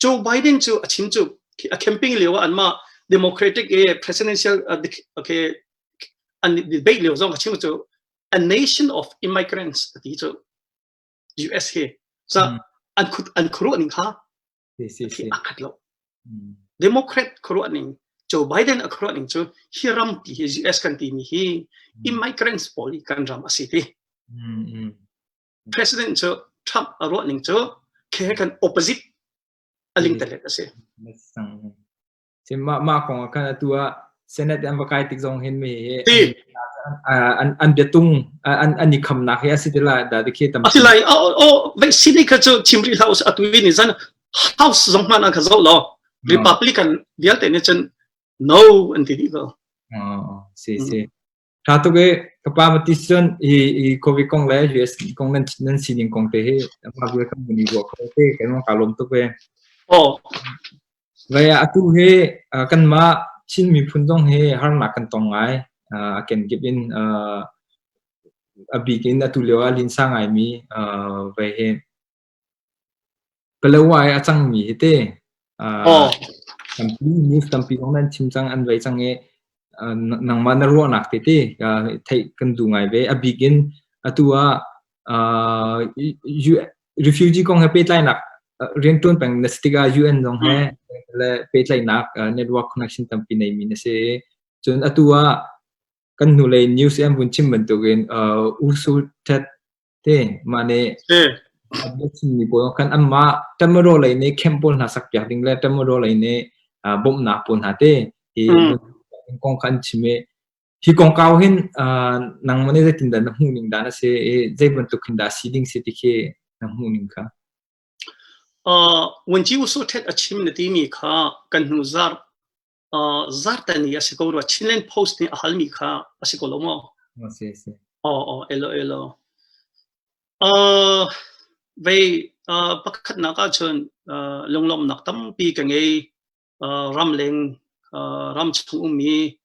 Joe Biden cu a chin cu a camping lio ah anmah democratic eh, presidential okay an debate lio zong a chim cu a nation of immigrants ti cu US he sa an khut an khuru ning kha a khat lo democrat khuru ning Joe Biden a khuru ning cu hi ram ti hi US kan ti mi hi immigrants pawl kan ram a si ti President cu Trump a ruah ning cu khi he khan opposite a ling telet a si. Mah mah kong ah khan atu ah Senate an va kai tik zong hin mi hi an an bia tung an an i khamnak hi asi ti la da ti khi tam ati lai o o vaccine kha chu chim ri house atu ni zan house zong man an kha zo lo republican vialte ne chen no an ti di ko si si Ṭha tuk i ka pa Mathis cun hi hi Covid kong le US kong nan nan sining kong te hi amah vialte kan i ruah kho te kan mang kaa lawm tuk ve. Aw. Ve atu hi uh, kanmah Chin miphun zong hi harnak kan tong ngai. Uh, can give in uh, a bik in atu lio ah linsa ngai mi uh, ve hi Palawa i a cangmi hi ti news tampi kong nan chim cang an voi cang i nangmah na ruahnak te ti theih kan duh ngai ve. A bik in atu ah refugee kong he pehtlainak riantuan peng na si tikah UN zong he le pehtlainak network connection tampi neimi na si. Cun atu ah kan hnulei news i an vun chim bantukin Ursul Tet te mah ne a biachimmi pawl kan anmah tamaro lei ne camp pawl hna sakpiak ding le tamaro lei ne bawmhnak pawl hna te hi kong kan chim i hi kong kau hin nang mane zeitin da na hmuh ning da na se i zei bantuk hin da si ding se ti khi na hmuh ning ka uh, wan chi uso thet achim na ti mi kha kan nu zar zartani a si ko rua Chinland Post nih a halmi kha a si ko lo maw? Si si. Oh oh elo elo. Uh, vei uh, pakhatnak ahcun uh, lunglawmnak tampi ka ngei uh, ramleng uh, ram chung ummi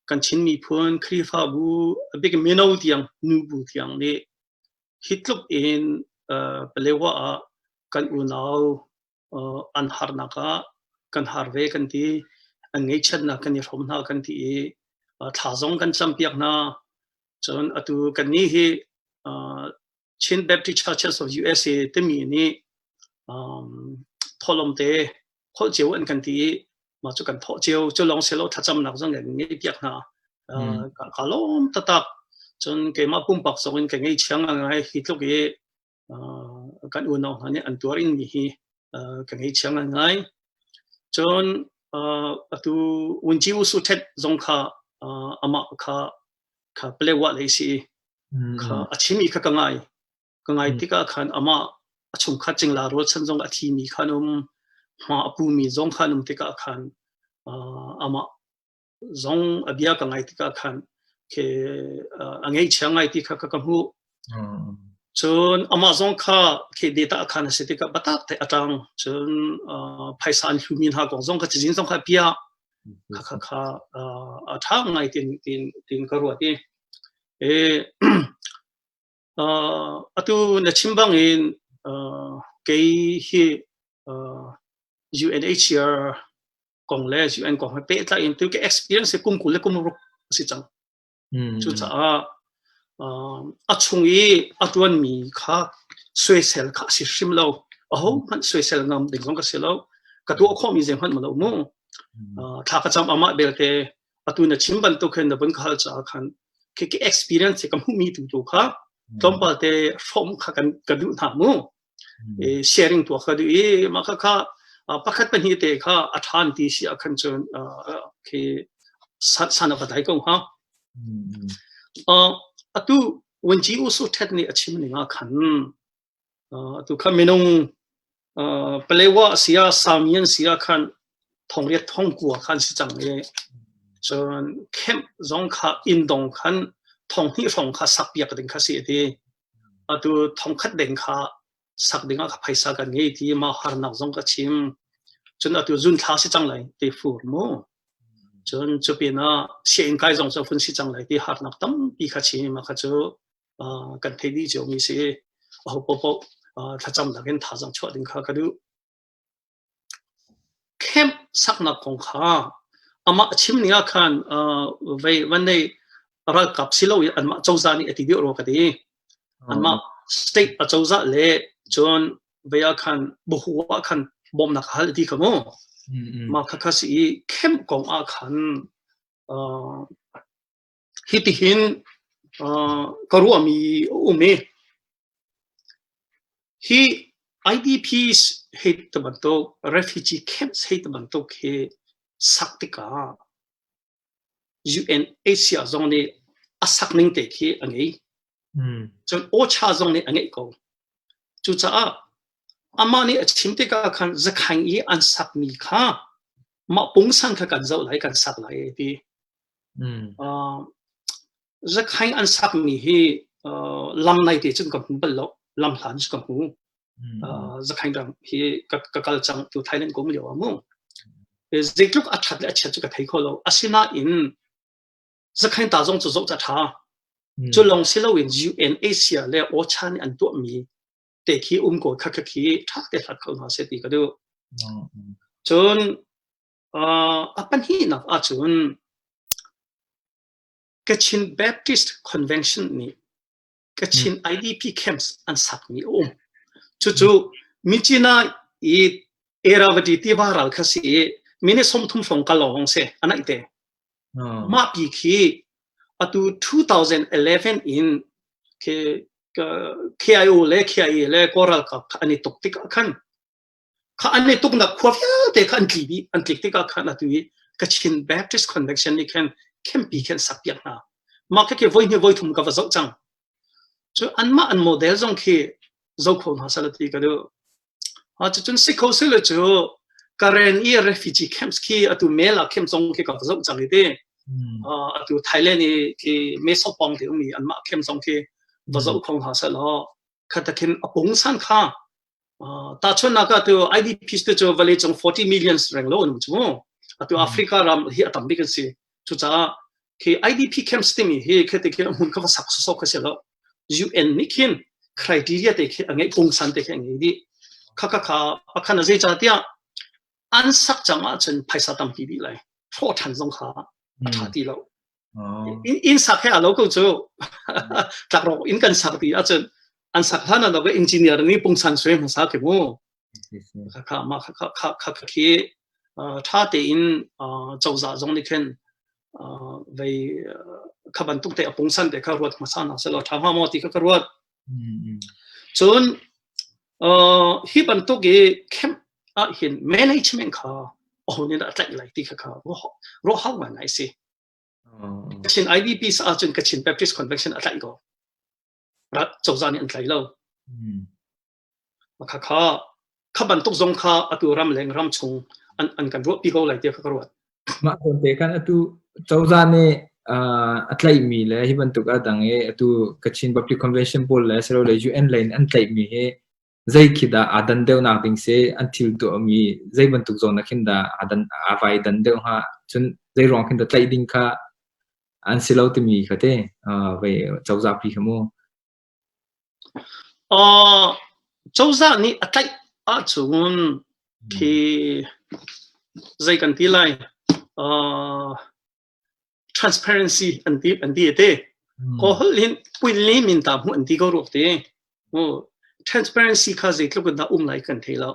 kan Chin miphun Khrihfabu a big mino tiang nubu tiang nih hi tluk in uh, palewa ah kan unau an harnak ah kan har ve kan ti an ngeihchiatnak kan i hrawm hna kan ti i thla zong kan campiak hna cun atu kan ni hi Chin Baptist Churches of USA timi nih tholom te holh cio an kan ti i mah cu kan thawh cio cu lawng se lo thlacamnak zong in ngei piak hna ka lawm tatak cun keimah pumpak zong in ka ngei chiang ngai hi tluk i kan unau hna nih an tuar ing mi hi ka ngeichiang ngai cun atu unci usu thet zong kha amah kha kha play wa lei si kha a chimi kha ka ngai ka ngai tikah khan amah a chung khat ching la rol chan zong a thi mi khan um ma apu mi zong khan um tikah khan amah zong a bia ka ngai tikah khan ke a ngeichia ngai ti kha ka hmuh cun amah zong kha ke data khan a si tikah batak te atang cun phaisa an hlumi hna kong zong ka cizin zong kha pia kha kha kha a tha ngai tin tin tin ka ruat i e atu na chim bang in kei hi UNHCR kong le UN kong he pehtlai in tu ke experience kum kul le kum ruk a si cang cucaah a chung i a tuan mi kha soisel kha a si hrim lo a ho hmanh soisel ngam ding zong ka si lo ka tuah khawh mi zeihmanh ma lo mu thla ka cham ama belte atu na chim bantuk khin na bun ka hal caah khan khi experience ka hmu mi tu tu kha tlawmpal te form kha kan kan duh hna mu sharing tuah kha duh i mah kha kha pakhat pahnih te kha a ṭhan ti si ah khan cun khi sana ka thai ko ha atu wanji usu thet ni a chim ni nga khan atu kha minung palewa sia samian sia khan thongriat thong kua khan si chang e cun camp zong kha in dong khan thong hnih hrawng kha sak piak ding kha si ti atu thongkhat deng kha sak dingah ka phaisa kan ngei ti ma harnak zong ka chim cun atu zun thla si cang lai te fur mu cun cu pin ah sian kai zong cu fun si cang lai ti harnak tampi kha chim kha cu kan thei di cio mi si ho popo thlacam dak in tha zong chuah ding kha ka duh camp saknak kong kha amah a chim ning ah khan vei van nei ralkap si lo in anmah cozah nih a ti deuh rua ka ti anmah state a cozah le cun vei ah khan buhu ah khan bawmnak hal ti ka mu mah kha ka si i camp kong ah khan hitihin ka ruahmi a um i hi IDPs hei ti bantuk refugee camps hei ti bantuk hi sak tikah UNHCR zong nih a sak ning te khi a ngei cun OCHA zong nih a ngeih ko cucaah amah nih a chim tikah khan zakhaing i an sakmi kha mah pungsan kha kan zoh lai kan sak lai ti Zakhaing an sakmi hi lam nai te cun ka hmu bal lo, lam hlan cu ka hmu. Zakhaing ram hi ka kal cang tu Thailand ko myo a mu. Zeitluk a that le a chiat cu ka thei kho lo. Asinain zakhaing ta zong cu zoh ca tha. Cu lawng si loin UNACR le OCHA nih an tuahmi te khi um ko kha kha khi tha te hlat ko hna se ti ka duh. Cun A pahnihnak ahcun Kachin Baptist Convention nih Kachin IDP camps an sakmi a um. Cucu Mincina i Erawati tiva ral kha si i mine somthum hrawng kal lawng si anaih te. Mah pi khi atu 2011 in KIO le KIA le Kawl ralkap an i tuk tik ah khan kha an i tuknak khua vialte kha an tli dih an tlik tikah khan atu i Kachin Baptist Convention nih khan khenpi khan sakpiak hna mah khi voi hnih voi thum ka va zoh cang cu anmah an model zong khi zo kho hna sal ti ka du ha cu cun si kho se le cu Karen i refugee camps khi atu mela camp zong khi ka va zoh cang ti atu Thailand i khi meso pong te umi anmah camp zong khi va zoh khong ha sal ho khatakin apung san kha tahchunnak ah tu IDPs te cu vale cung 40 millions reng lo nu chu atu Africa ram hi a tam bik an si cucaah khi IDP camps timi hi khete khi mun kha sak so kha se lo UN nih khin criteria te khi angai pungsan te khi angai di khaka kha pakhan azei cha tia an sak chang ah cun phaisa tampi bi lai tho than zong kha a tha ti lo inn sak he a lo ko cu tlakrawk inn kan sak ti ahcun an sak hlan ah engineer nih pungsan sui hmasa khi mu kha ma kha kha kha khi tha tein cozah zong nih khin vei kha bantuk te pungsan te kha ruat hmasa na selo tha ma mo ti kha ruat cun hi bantuk i camp ah hin management kha ohun in a tlai lai ti kha kha ro hau ngai si Ka thin IDP sa ahcun ka Chin Baptist Convention a tlaih ko. Cozah nih an tlai lo. Makhakha kha bantuk zong kha atu ram leng ram chung an kan ruahpi ko lai tiah ka ruat. Mah tonte kan atu cozah nih a tlaihmi le hi bantuk a dang i atu Kachin Public Convention pawl le sero le UN lei an tlaihmi hi Zeikhi dah aa dan deuhnak ding si an thil tuahmi zei bantuk zawn ah khin dah aa dan aa vai dan deuh hnga cun zei ruang khin dah tlaih ding kha an si lo timi ka te uh, vai cozah pi kha mu uh, cozah nih a tlaih ahcun khi zei kan ti lai uh, transparency an ti an ti te ko hol in puin le min ta mu an ti ko ruak te o transparency kha zei tluk da um lai kan thei lo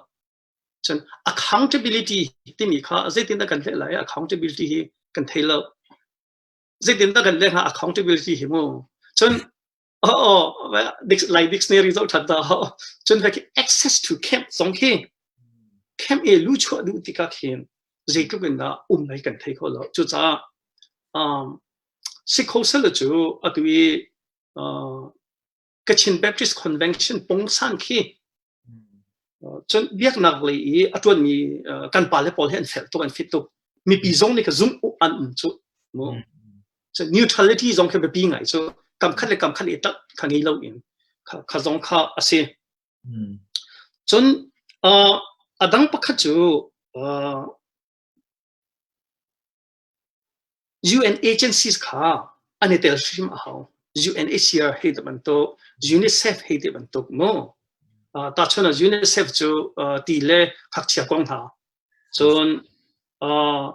chan accountability timi kha zeitin da kan hle lai accountability hi kan thei lo zeitin da kan le ha accountability hi mu cun Oh, like dictionary zo than ta ho. Cun ha ki access to camp zong khi camp e lu chuah duh tika khin zeitluk in dah um nai kan thei kho lo. Cu ca um Sikh hosel cu atu i uh, Kachin Baptist Convention pong san khi Cun biaknak lei i a ṭuanmi kan pale pawl hi an fel tuk, an fit tuk. Mipi zong nih ka zumh an um cu. Neutrality zong khi biapi ngai cu kam khat le kam khat i ṭanh ka ngei loin ka zong kha a si. Cun a dang pakhat cu UN agencies kha an i tel hrim a hau. UNHCR hei ti bantuk, UNICEF hei ti bantuk mu. Uh, tahchun UNICEF cu uh, ti le phakchia kong hna. Cun uh,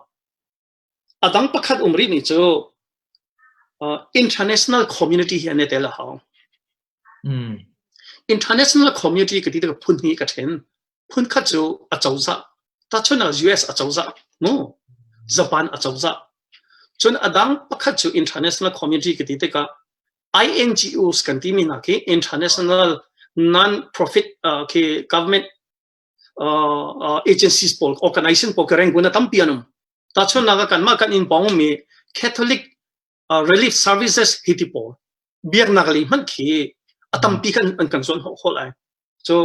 a dang pakhat um rih mi cu uh, international community hi an i tel a hau. Mm. International community ka ti ka phun hi ka ṭhen. phunkhat cu acozah tahchun US acozah mu Japan acozah cun adang pakhat cu international community ka ti tikah INGOs kan ti mi hna khi international non profit uh, khi government uh, uh, agencies pawl organization pawl ka reng guna tampi anum ta chun naga kan ma kan in bong mi catholic relief services hi ti pawl biaknak lei hmanh khi a tampi kan an kan zuan hol ai so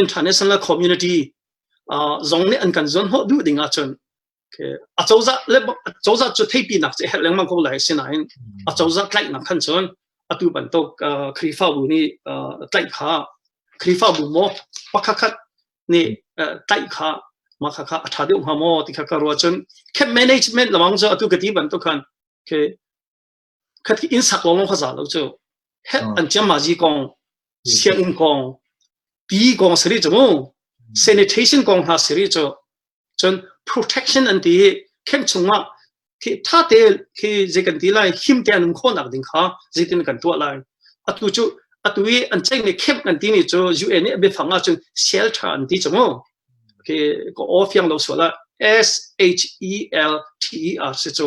international community zong nih an kan zuan ho duh ding ahcun acozah le acozah cu theipi nak ce her lengmang ko lai sinain acozah tlaih nak khan chun atu bantuk khrifa bu ni tlaih kha khrifa bu mo pakhat ni tlaih kha ma kha kha atha deuh ha mo ti kha ka ro chun camp management lamang zo atu ka ti bantuk khan Okay. Khatkhat inn sak lawng kha za lo cu. Heh an ciamazi kong, sianginn kong, pi kong siri cu mu. Sanitation kong hna siri cu. Cun protection an ti khen chungah khi tha te khi zei kan ti lai him te an um khonak ding kha zeitin kan tuah lai atu cu atu i an cheng le khem kan ti ni cu UN nih a biafang ah cun shelter an ti chu mu khi ka aw fiang lo sual ah S H E L T E R si cu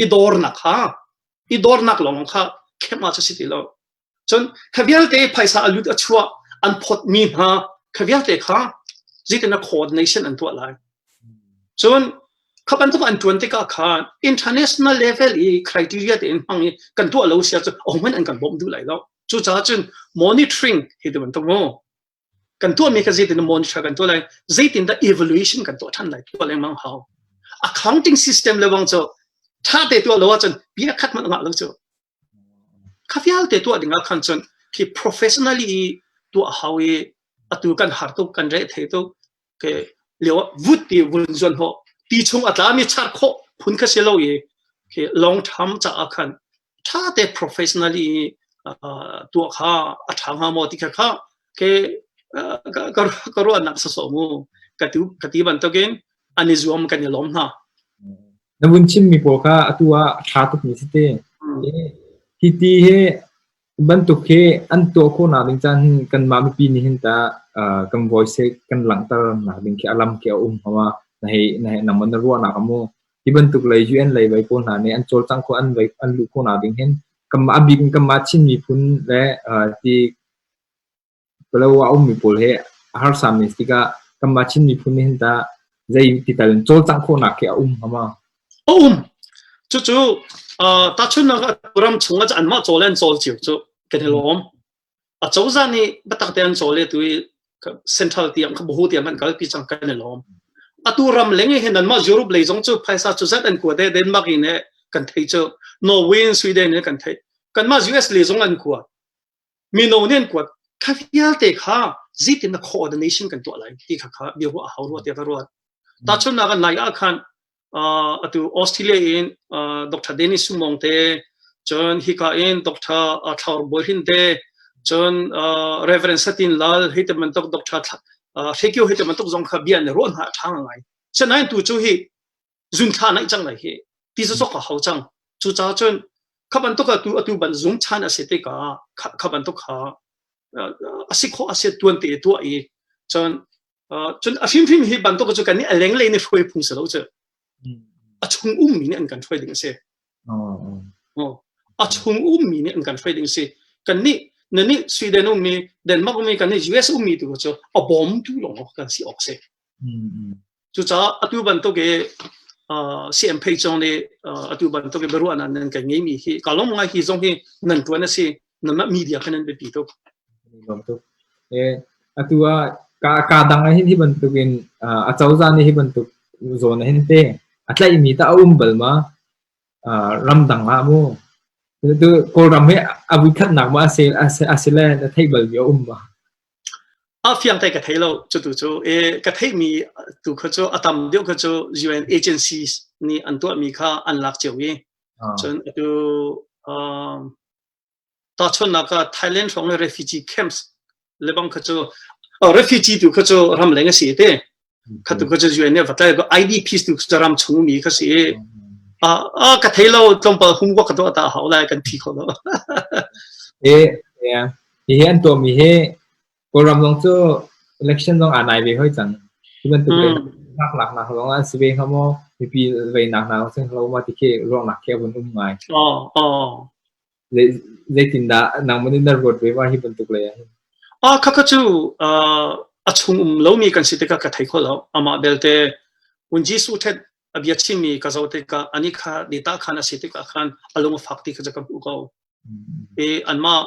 i dornak ha i dornak lawng kha khema cu si ti lo cun kha vialte phaisa alut a chua an phot mi hna kha vialte kha zikin a khod nation an tuah lai cun kha bantuk an tuan tikah khan international level i criteria te in hmang i kan tuah lo sia cu ong an kan bom du lai lo cu ca cun monitoring hi ti bantuk mu kan tuahmi kha zeitin monitor kan tuah lai zeitin dah evaluation kan tuah ṭhan lai tuah lengmang hau accounting system le wang cu ṭha te tuah lo ahcun bia khat hmanh ngah lo cu kha vialte tuah ding ah khan cun khi professionally tuah hau i atu kan har tuk kan reh thei tuk lio ah vut ti vun zuan ho ti chung a tlami char khawh phun kha si lo i long term caah khan tha te professionally tua kha a tha hnga maw ti kha kha ke ka ruahnak sa so mu ka ti ka ti bantukin an i zuam kan i lom hna na vun chim mi pawl kha atu ah tha tuk mi si te hi ti hi Cu bantuk hi an tuah khawhnak ding caan hi kanmah mipi nih hin tah uh, kan voice hi kan langhter nak ding khi a lam khi a um hama na hei na hei naman na ruahnak amu hi bantuk lei UN lei vai pawl hna nih an cawlcang kho an vai an lu khawhnak ding hin kanmah abik kanmah Chin miphun le uh, ti Palawa a ummi pawl hi a harsa men si tikah kanmah Chin miphun nih hin tah zei ti tal in cawlcangh khawhnak khi a um hnga ma? A um. Cucu tahchunhnak ah ram chungah anmah cawl in cawl cio cu kan i lawm. A cozah nih biatak tein an cawl i tu i central tiang buhu tiang an kalpi cang kan i lawm. Atu ram leng hi nanmah Europe lei zong cu phaisa cu zat an kuat i Denmark in kan thei cu Norway in Sweden in kan thei kanmah US lei zong an kuat Mino nih an kuat. Kha vialte kha zeitin na coordination kan tuah lai ti kha kha bia ruah hau ruah tiah ka ruat. Tahchunhnak ah, nai ah khan uh, atu Australia in uh, Dr. Dennis Sumong te cun hika in Dr. Uh, Thlaur Bohin te cun uh, Reverend Satin Lal hei te man tok Dr. Uh, Hrekio hei te man tok zong kha bia ne ruah hna ṭhang ngai. Sanain tu cu hi zunthla naih cang lai hi ti sosok a hau cang cucaah cun kha bantuk atu atu ban zung chan a si te ka kha bantuk ha a si kho a si tuan te tua i cun cun a hrimhrim hi bantuk cu kan ni a lenglei ni hruai phung se lo cu a chung um mi nih an kan hruai ding a si a chung um mi nih an kan hruai ding si kan ni na ni sweden um mi denmark um mi kan ni us um mi tu cu a bom tu long kan si ok se Cucaah atu bantuk i CMP zong nih atu bantuk i biaruahnak nan kan ngeimi hi ka lawmngai hi zong hi nan tuan a si nan mah media kha nan biapi tuk. Atu ah ka dang hin hi bantuk in a cozah nih hi bantuk zawn hin te a tlaihmi ta a um bal ma ramdang ah mu tu kawlram hi a vui khatnak ma a si le a theih bal mi a um ma A fiang thei ka thei lo cutu cu. E, ka theihmi tu kha cu a tam deuh kha cu UN agencies nih an tuahmi kha an lak cio i cun atu um, tahchunnak ah Thailand hrawng le refugee camps lebang kha cu refugee tu kha cu ram leng a si te Khatu ka cu UN va tlai ID piece tu ram chung mi kha si a ka thei lo tlawmpal hum kwa ka to ta hau lai kan phi kho lo e hi hi an to mi hi kawlram zong cu election zong anai ve hoi cang tu bantuk nak nak nak long an si ve ha mo mipi ve nak nak sing lo ma ti ke rong nak ke bun um ngai oh oh Zeitindah nangmah nih na ruat ve va hi bantuk lei ah hin? Khakha cu a chung um lomi kan si tikah ka thei kho lo. Amah belte hun Jesuh ṭhet a bia chimmi ka zoh tikah anih kha ni tah khan a si tikah khan a lung a fak ti kha cu ka hmuh ko. I anmah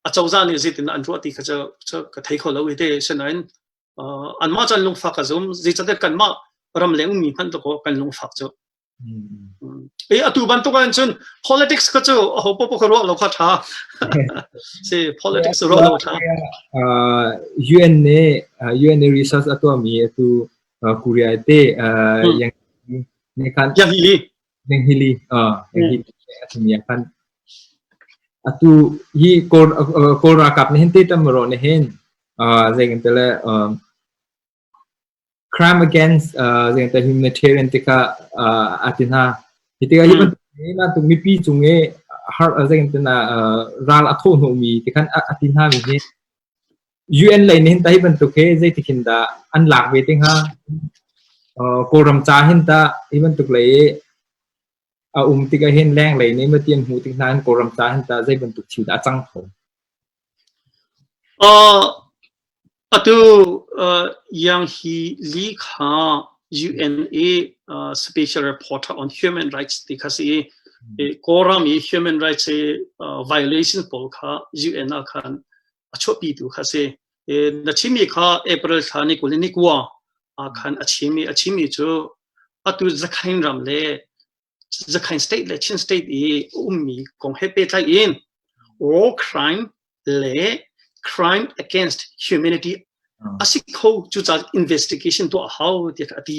acozah nih zeitindah an ruah ti kha cu ka thei kho lo i te. Sinain anmah cu an lungfak a zum. Zeicatiah kanmah ram leng ummi hmanh tu kan lungfak cu. I atu bantuk ahhin cun politics kha cu aho popoh kha ruah lo kha ṭha si politics ruah lo ṭha UN nih UN nih research a tuahmi atu Korea te yang hili yang hili a thimi ah khan atu hi Kawl ralkap nih hin te tamro nih hin zeikan tele crime against uh, humanitarian tikah uh, ati hna hi tikah hi bantuk bantuk mipi cung e har zeng tena ral a tho no mi tikhan ati hna mi hi UN lei nin tai bantuk he zei tikhin da an lak ve tinga kawlram cha hin ta hi bantuk lei A um tik ahhin lenglei nih mati an hmuh tik nain Kawlram ta hin tah zei bantuk thil dah a cang kho? Atu Yang Hi Lee kha UN i special reporter on human rights ti kha si i Kawlram i human rights i violation pawl kha UN ah khan a chuahpi tu kha si na chimi kha april thla ni kul ni kua khan a chimi a chimi cu atu zakhain ram le zakhain state le chin state i ummi kong he petlai in war crime le crime against humanity asi kho cu ca investigation to hau ti a ti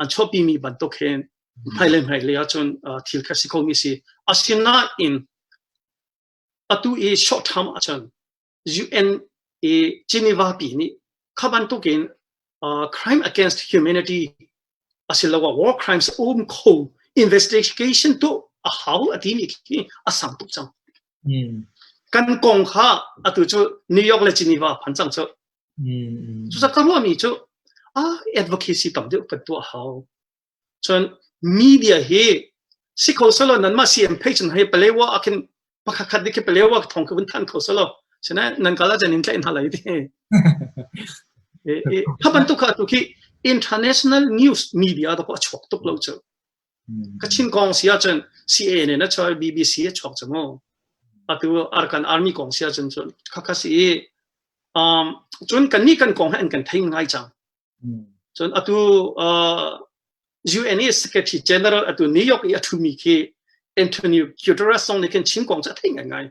an chuahpimi bantuk hin hmai le hmai lei ahcun thil kha si khomi si asinain atu i short term ahcun UN i Geneva pi nih kha bantukin crime against humanity asiloah war crimes um kho investigation tu a hau a ti mi khi a sang tuk cang kan kong kha atu cu New York le Geneva phan cang cu Cusak ka ruahmi cu advocacy tam deuh kan tuah hau. Cun media hi si kho selaw nanmah CM page hna hi palewa ah khin pakhatkhat dik hi palewa thong ka vun than kho selaw sinain nan kala jan in tlaih hna lai ti. Hi bantuk kha tu khi international news media da ko a chuak tuk lo cu. Kachin kong si ahcun CA nih na chawi BBC a chuak cang maw? Atu Arakan Army kong si ahcun cun khakha si i um, cun kan nih kan kong he an kan thei ngai cang. Cun atu uh, UN e Secretary General atu New York i a thumi khi Antonio Guterres zong nih khin Chin kong cu a thei ngai ngai.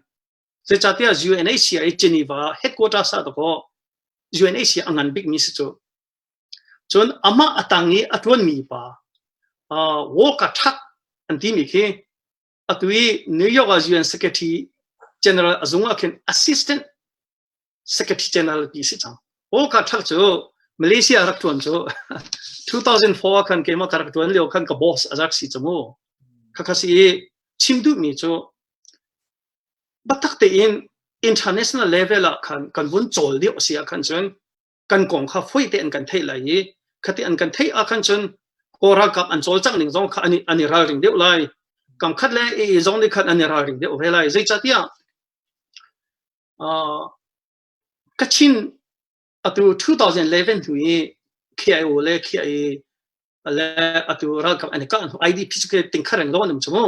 Zeicahtiah UNHCR i Geneva headquarters ah dakaw UNHCR a ngan bikmi si cu. Cun amah a tang i a ṭuanmi pa Walker Tuck an timi khi atu i New York ah UN Secretary General a zung ah khin assistant Secretary General ti si cang. O ka thak cu Malaysia rak tuan cu 2004 ah khan keimah ka rak tuan lio khan ka boss azak si chamu khakha si chim du mi cu batak te in international level ah khan kan vun chol dio sia khan chun kan kong kha foi te an kan thei lai i khati an kan thei a khan chun kora kap an chol chak ning zong kha ani ani ral ring deu lai kam khat le i zong ni khat ani ral ring deu ve lai zei chatia Kachin atu 2011 hnu i KIO le KIA le atu ralkap an i kah hnu IDP cu ke tingkhar in lawn um cu mu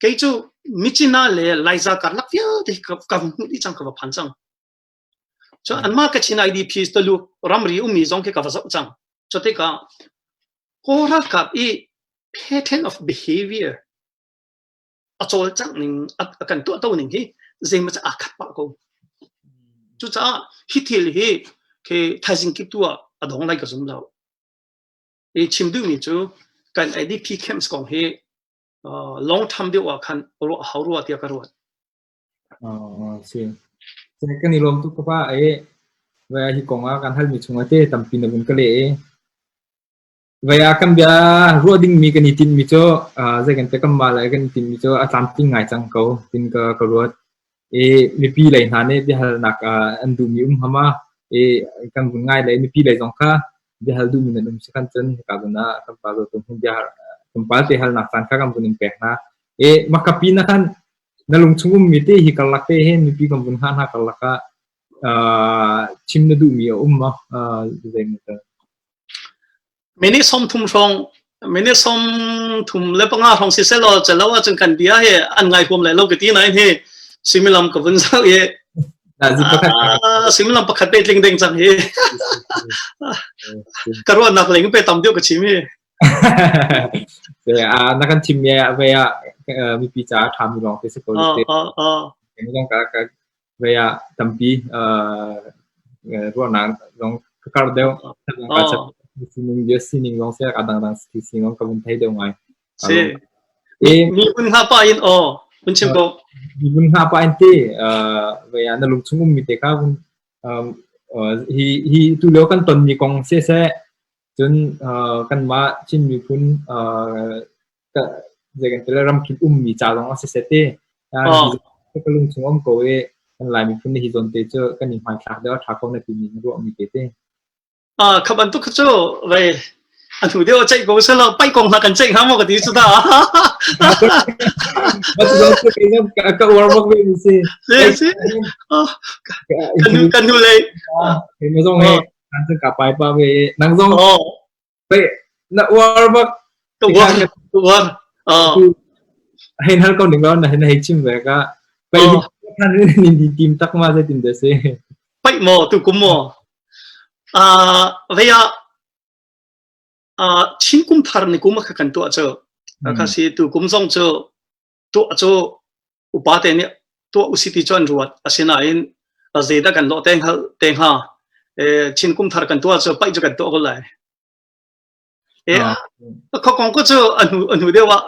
kei cu michina le laiza karlak vialte ka hung hmuh dih cang ka va phan cang cho anmah kachin IDP to lu ramri ummi zong ke ka va zau cang cho te ka ko ralkap i pattern of behavior a cawlcangh ning a kan tuahto ning hi zeimah cu aa khat pah ko. Cucaah hi thil hi khi thaizing kip tu ah a dong lai ka zum lo. I chim duhmi cu kan ADP camps kong hi uh, long term deuh ah khan ruah hau rua tiah ka ruat. Ah, si. Saya kan i lom tu ka pa ai. Wa hi kong ah kan hal mi chung ate tampi na bun ka le e. Vaya kan bia ruah dingmi kan i tinmi cu zei kan te kan ma lai kan i tinmi cu a tlamtling ngai cang ko tin ka ka ruat i mipi lei hna nih biahalnak an duhmi um hama i kan vun ngai lei mipi lei zong kha biahal duhmi nan um si kan cun hika zun ah kan pa zo tum bia kan pa te halnak caan kha kan vun in pek hna e makapi na kan na lung chung ummi te hi karlak te hen mipi kan vun ha hna karlaka chim na duhmi a um ma zai mu Minute sawmthum hrawng minute sawmthum le panga hrawng siseh law calo ahcun kan bia hi an ngai huam lai lo ka ti nain hi suimilam ka vun zau i suimilam pakhat te tling deng cang hi ka ruahnak ling pe tam deuh ka chim hi na kan chim ya ve ya mipi ca ṭha mi lawng te se ko te mi kan ka Vei ah tampi ruahnak zong ka kar deuh. Oh. Sining dia sining zong saya kadang dang si sining ka vun thei deuh ngai. Si. Mimun ha pa in o mun chim ko. Mimun ha pa in ti vei ah na lung chung um mi te ka vun hi hi tu leo kan ton mi kong se se cun kan mah chin mi phun zeikan ti le ramkip ummi ca zong ah siseh ti ka lungchung um ko i kan lai miphun hi zawn te cu kan i hmaithlak deuh tha ko na timi na ruah mi te te ah kha bantuk cu vai an hu deu chei ko selo pai kong hla kan chei ha mo ka ti su da ba tu zong ke na ka war mo we ni si si kan kan nu le ke na zong he kan ka pai pa we nang zong Na uar bak. Ka uam, ka uam. Hei hal ko ning lawan na hei chim ve ka. Pai kan ni di team tak ma sai tim de se. Pai mo tu kum mo. À, vậy à, à, chín kum phar ni kum mà kan tu cho. Ka si tu kum zong cho tuah cu upate nih tuah usiti cu an ruat asinain zeidah kan lawh te hngal te hnga chin kum thar kan tuah cu paih cu kan tuah ko lai e kho kong ku cu anu anu deuh ah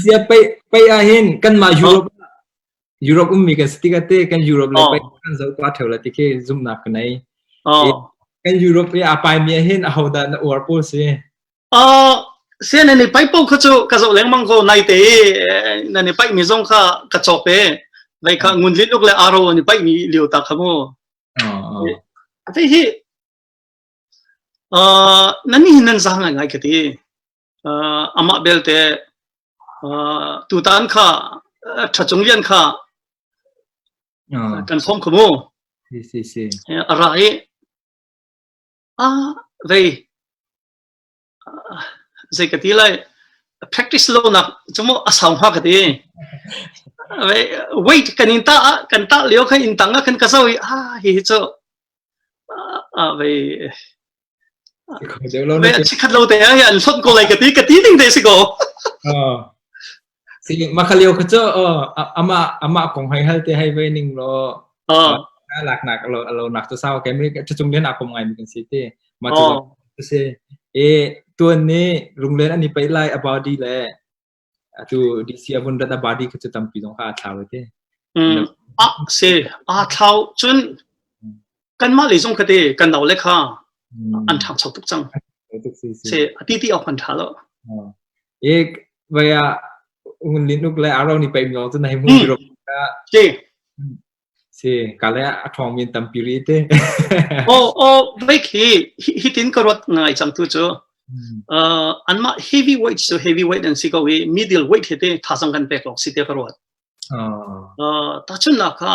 sia pei pei ah hin kan ma europe europe ummi ka sti ka te kan europe le pei kan zo pa theu la ti ke zum nak nai kan europe ya pai mi hin a ho da na uar po si Sian nan i paih paoh kha cu ka zoh lengmang ko nai te nan i paih mi zong kha ka cawk e vai kha ngun lin uk le aro an i paih mi lio ta kha mu ate hi nan hi nan za ngai ngai ka ti ama belte tu tan kha tha chung lian kha kan som khumu ra i Ah rei zei ka ti lai practice lonak cu mu a sau hnga ka ti weight kan in tah ah kan tah lio khan in tang ah kan ka zo i ah hi hi cu ah vei chikhat lo te an hlot ko lai ka ti ka ti ding te si ko Si, mah kha lio kha cu aw, a amah amah kong hai hal te hai ve ning law, Aw. na laknak a lo a lo nak cu sau ke mi cu chung len a kom ngai mi kan si ti. Mah cu Aw. a si. E tuan ni lunglen an i pei lai a body le atu DC a vun rat a body kha cu tampi dong kha a thlau ti. Mm. Ah si. Ah thlau cun kanmah lei zong kate kan nau le kha an ṭhang chau tuk cang se ati ti awk an ṭha lo e vaya ngun lin uk le aro ni paim lo chu nai mu ro si si ka le a thong min tam piri te o o vai khi hi tin ka rot ngai chang tu chu an ma heavy weight so heavy weight an si ko i middle weight he te thasang kan pek lo si te ka rot ta chun na kha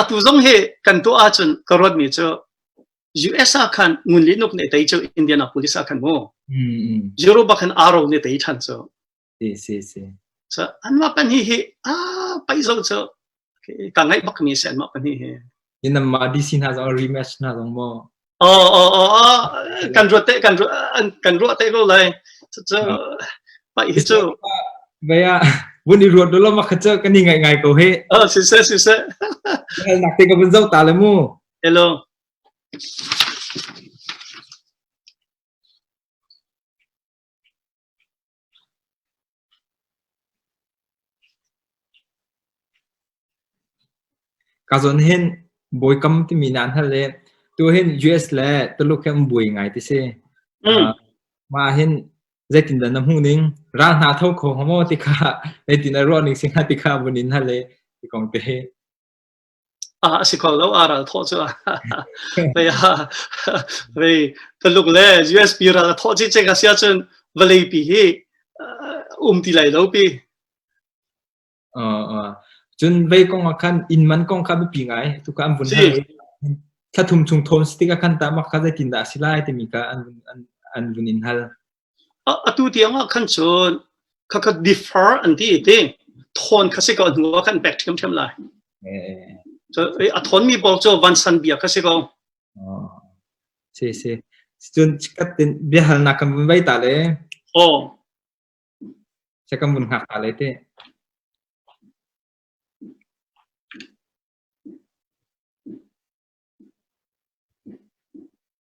atu zong hi kan tuah ahcun ka ruatmi cu US ah khan ngun li nuk nih tei cu Indianapolis ah khan mu Euro bak khan aro nih tei than cu si si si so anmah pan hi hi a pai zo cu ka ngai bak mi se anmah pan hi hi yin mah DC hna zong rematch hna zong mo Oh, oh, oh, oh. Kan ruat te, kan ruat, kan ruat te lo lai. Cucu, pai hi cu. Vaya, vun i ruat lo lama khacha kan i ngai ngai ko he. Oh, si se, si se. Hal nak te ka vun zau ta le mu. Hello. Kazon hin bawikam timi nan hal le tu hin US le Tuluk he um buai ngai ti si. Mah hin zeitin dah na hmuh ning ral hna tho kho hamaw ti kha zeitin a ruah ning singa ti kha bunin hal le ti kong te hi. Ah a si kho lo, aa ral thawh cu mei ah mei Tuluk le USB ral a thawh cicing a si ahcun vawleipi hi um ti lai lo pi. Cun vei kong ah khan inn man kong kha biapi ngai. Tu ka an vun ha tha thum chung thawn stik a khan ta mak kha zeitin dah a si lai timi kha an vun in hal. Atu tiang ah khan cun khakha defer an ti ti thawn kha si ko hnu ah khan back ṭhiamṭhiam lai. A thawnmi pawl cu vansan bia kha si ko. Si si. Cun katin biahalnak kan vun vai ta le. Oh. Saya kan vun ngak ta le te.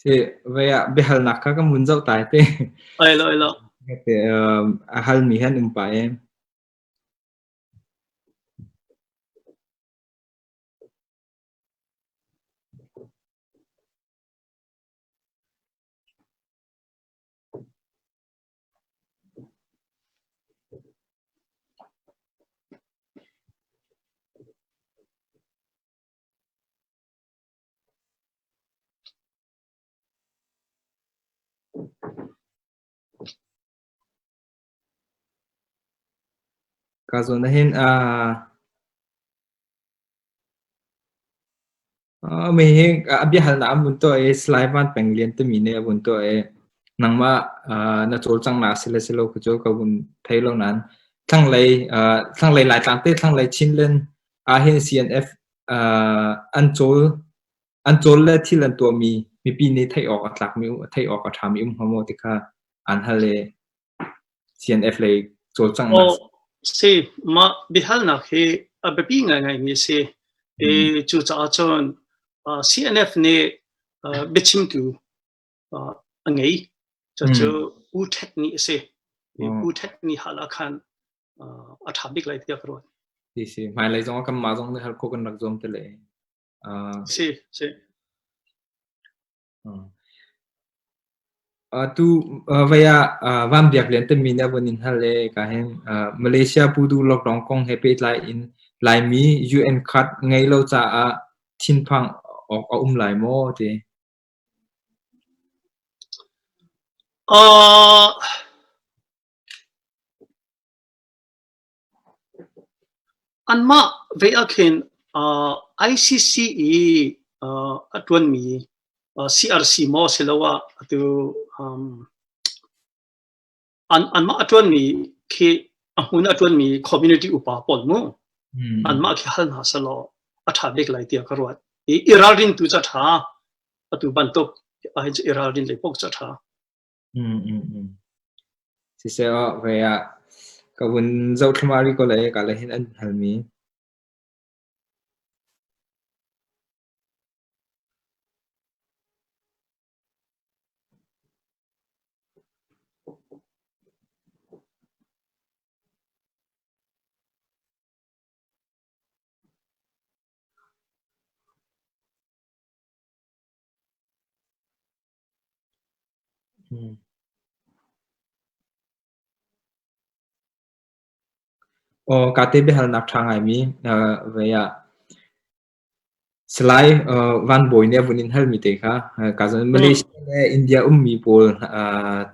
Si, vei ah biahalnak kha ka mun zoh tai te. Oil, oil. A halmi han in pa em. Ka zawn ahhin aa hihi a biahalnak a vun tuah i Salai Van Peng Lian timi nih a vun tuah i nangmah na cawlcanghnak a si le si lo cu ka vun thei lo nain thlanglei thlanglei Laitlang te thlanglei Chinland ah hin CNF an cawl an cawl le thil an tuahmi mipi nih theih awk a tlakmi theih awk a ṭhami um hnga maw ti kha an hal i CNF lei cawlcang oh, si mah biahalnak hi a biapi ngaingaimi a si i cucaah cun CNF nih biachimtu a ngei. Cucu Pu Ṭhet Ni a si. Pu Ṭhet Ni hal ah khan a ṭha bik lai tiah ka ruat. Si si. Hmailei zong ah kanmah zong nih har kho kan rak zuam te le. Si si. Tu vaya vam biak lian te mi nih abon in hal le ka hen Malaysia pudu lockdown kong he pe tlai in lai mi UN card ngei lo ca ah thinphang ok a um lai maw ti. Anmah ve ahkhin ICC i a ṭuanmi CRC maw asiloah atu anmah a ṭuanmi khi a hmun a ṭuanmi community upa pawl mu anmah khi hal hna selaw a ṭha bik lai tiah ka ruat i i ralrin tu ca ṭha atu bantuk ahhin cu i ralrin lei pok ca ṭha siseh ah ve ah ka vun zothlamari ko le ka le hin an halmi Aw, kaa te biahalnak ṭha a ngaimi, voi ah Salai Van Bawi nih a vun in halmi te kha kaa zoh. Malaysia le India ummi pawl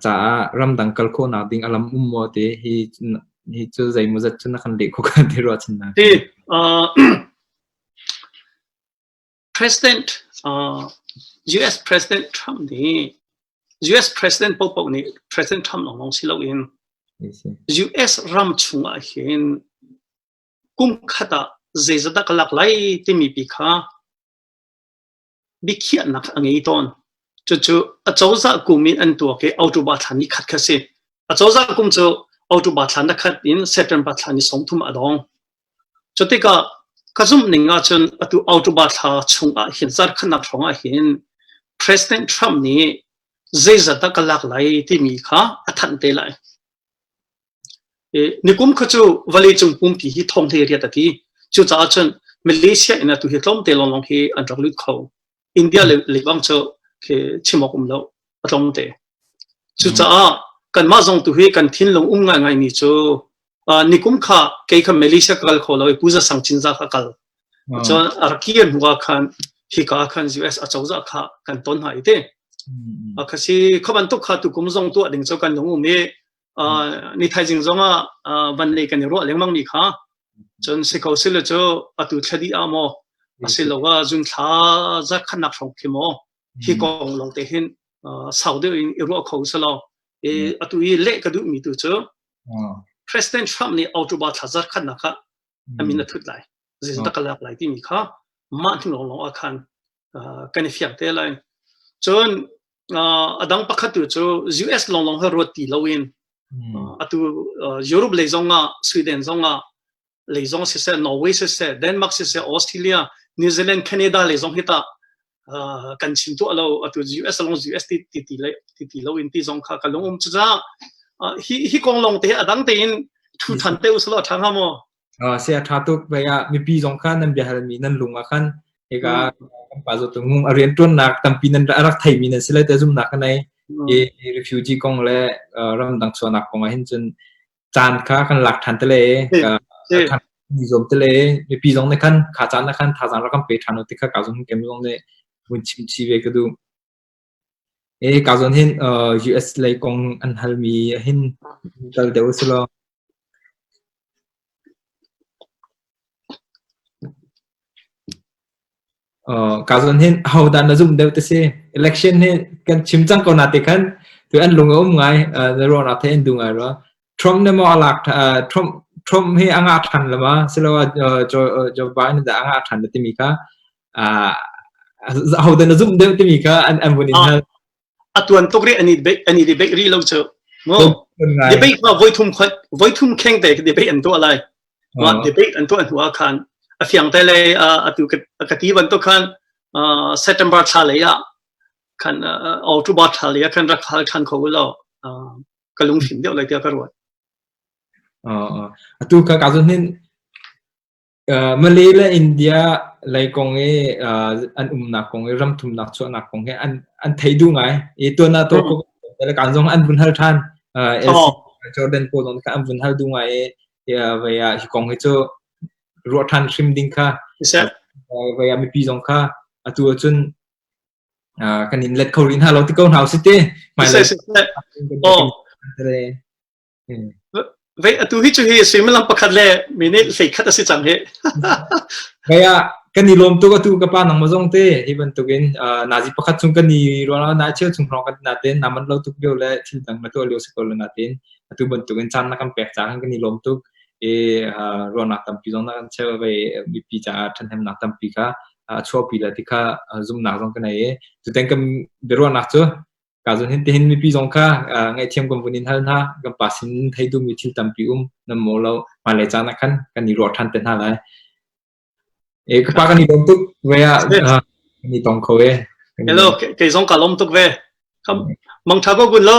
caah ramdang kal khawhnak ding a lam um maw ti hi hi cu zeimaw zat cu na kan leh khawh kan ti ruahchannak. President US President Trump nih US President popoh nih President Trump lawng si loin US ram chungah hin kum khat ah zeizat dah ka lak lai timi pi kha biakhiahnak a ngei tawn. Cucu acozah kum in an tuak i October thla ni khat kha si. Acozah kum cu October thla na khat in September thla ni sawmthum a dong. Cu tikah ka zumh ning ahcun atu October thla chung ah hin zar khanak hrawng ah hin President Trump nih zeizat dah ka lak lai timi kha a thanh te lai. Nikum kha cu vawleicung pumpi hi thawngthei riat a ti. Cucaah cun Malaysia in atu hi tlawmte lawnglawng hi an rak lut kho. India lebang cu chimawk um lo, a tlawmte. Cucaah kanmah zong tu hi kan thinlung um ngaingai mi cu nikum kha kei kha Malaysia ka kal kho lo i Puja sang Cinza ka kal. Cun a raki an hua khan hi ka khan US a cozah kha kan ton hna i te. A khasi khabantuk kha tukum zong tu ding cu kan lung um i ni thaizing zongah van lei kan i ruah lengmang mi kha cun si ko sile cu atu thladi a maw asilo wa zun thla za khanak hrawng khi maw hi kong lo te hin sau deuh in i ruah kho selo e atu i le ka duh mi tu cu president trump nih autoba thla za khanak kha amin a thut lai zin ta kalak lai ti mi kha ma thing long long a khan kan i fiang te lai cun a dang pakhat tu cu US lawnglawng he ruat ti lo in atu Europe lei zong ah Sweden zong ah lei zong siseh Norway siseh Denmark siseh Australia New Zealand Canada lei zong hi ta kan chim tu lo atu US long US ti ti ti ti ti lo in ti zong kha ka lungum cu hi hi kong long te a dang te in thu than te usala thanga mo uh, saya tha tuk vai ah mipi zong kha nan biahalmi nan lung ah khan hika kan pa zo tu ngung a rian tuannak tampi nan a rak theimi nan si lai te zumnak ka nei i refugee kong le ram dang suanak kong ah hin cun caan kha kan lak than te le mi zom te le mipi zong ne khan kha caan na khan tha zan rakam pe thano te kha ka zong kem zong ne mun chim chi ve ka du Kaa zawn hin US lei kong an halmi hin tal deuh a si lo. Kaa zawn hin ahodah na zumh deuh ti si? Election hi kan chim cang ko na ti khan, tu an lung a um ngai, na ruahnak theih an duh ngai rua. Trump na maw a lak Trump Trump hi a ngah than lama siloah Joe Biden dah a ngah than na timi kha ho dan a zum deuh timi kha an an vun in hal a tuan tuk ri ani ani debate ri lo chu ngo debate ma voi thum khot voi thum kheng te debate an to lai ma debate an to an hua khan a fiang te le a tu ka ti ban to khan September thla le ya kan all to ba thla le kan rak hal than kho lo ka lunghrin deuh lai tiah ka ruat. Atu ka ka zun hin Malay le India lei kong i an umnak kong i ram thumnak chuahnak kong hi an an thei du ngai i tuan na to ko le kan zong an vun hal than Jordan po non ka an vun hal du ngai i vaya hi kong hi chu ruah than hrim ding kha vaya mi pi zong kha atu cun kan in let kho rih hna lo ti ko hna usih ti. Vei atu hi cu hi suimilam pakhat le minute hlei khat a si cang hi. Vei a kan i lawm tuk atu ka pa nang mazong te hi bantuk in nazi pakhat chung kan i ruang na cheu chung hrong kan na ten naman lo tuk bio le thil dang na to leo si ko na ten atu bantuk in chan na kan pek cha kan i lawm tuk e ruang nak tampi zong na kan cheu vei mi pi cha than hem nak tampi kha a chuahpi le ti kha zumnak zong ka nei i tuteng kan biaruahnak cu ka zun hin tihin mipi zong kha ngaihthiam kan vun in hal hna kan pa sin thei du mi thil tampi um nam mo lo ma le chang na khan kan ni ruah than te hna lai e ka pa kan ni lom tuk ve a ni tong kho e hello kei zong ka lom tuk ve mang tha ko gun lo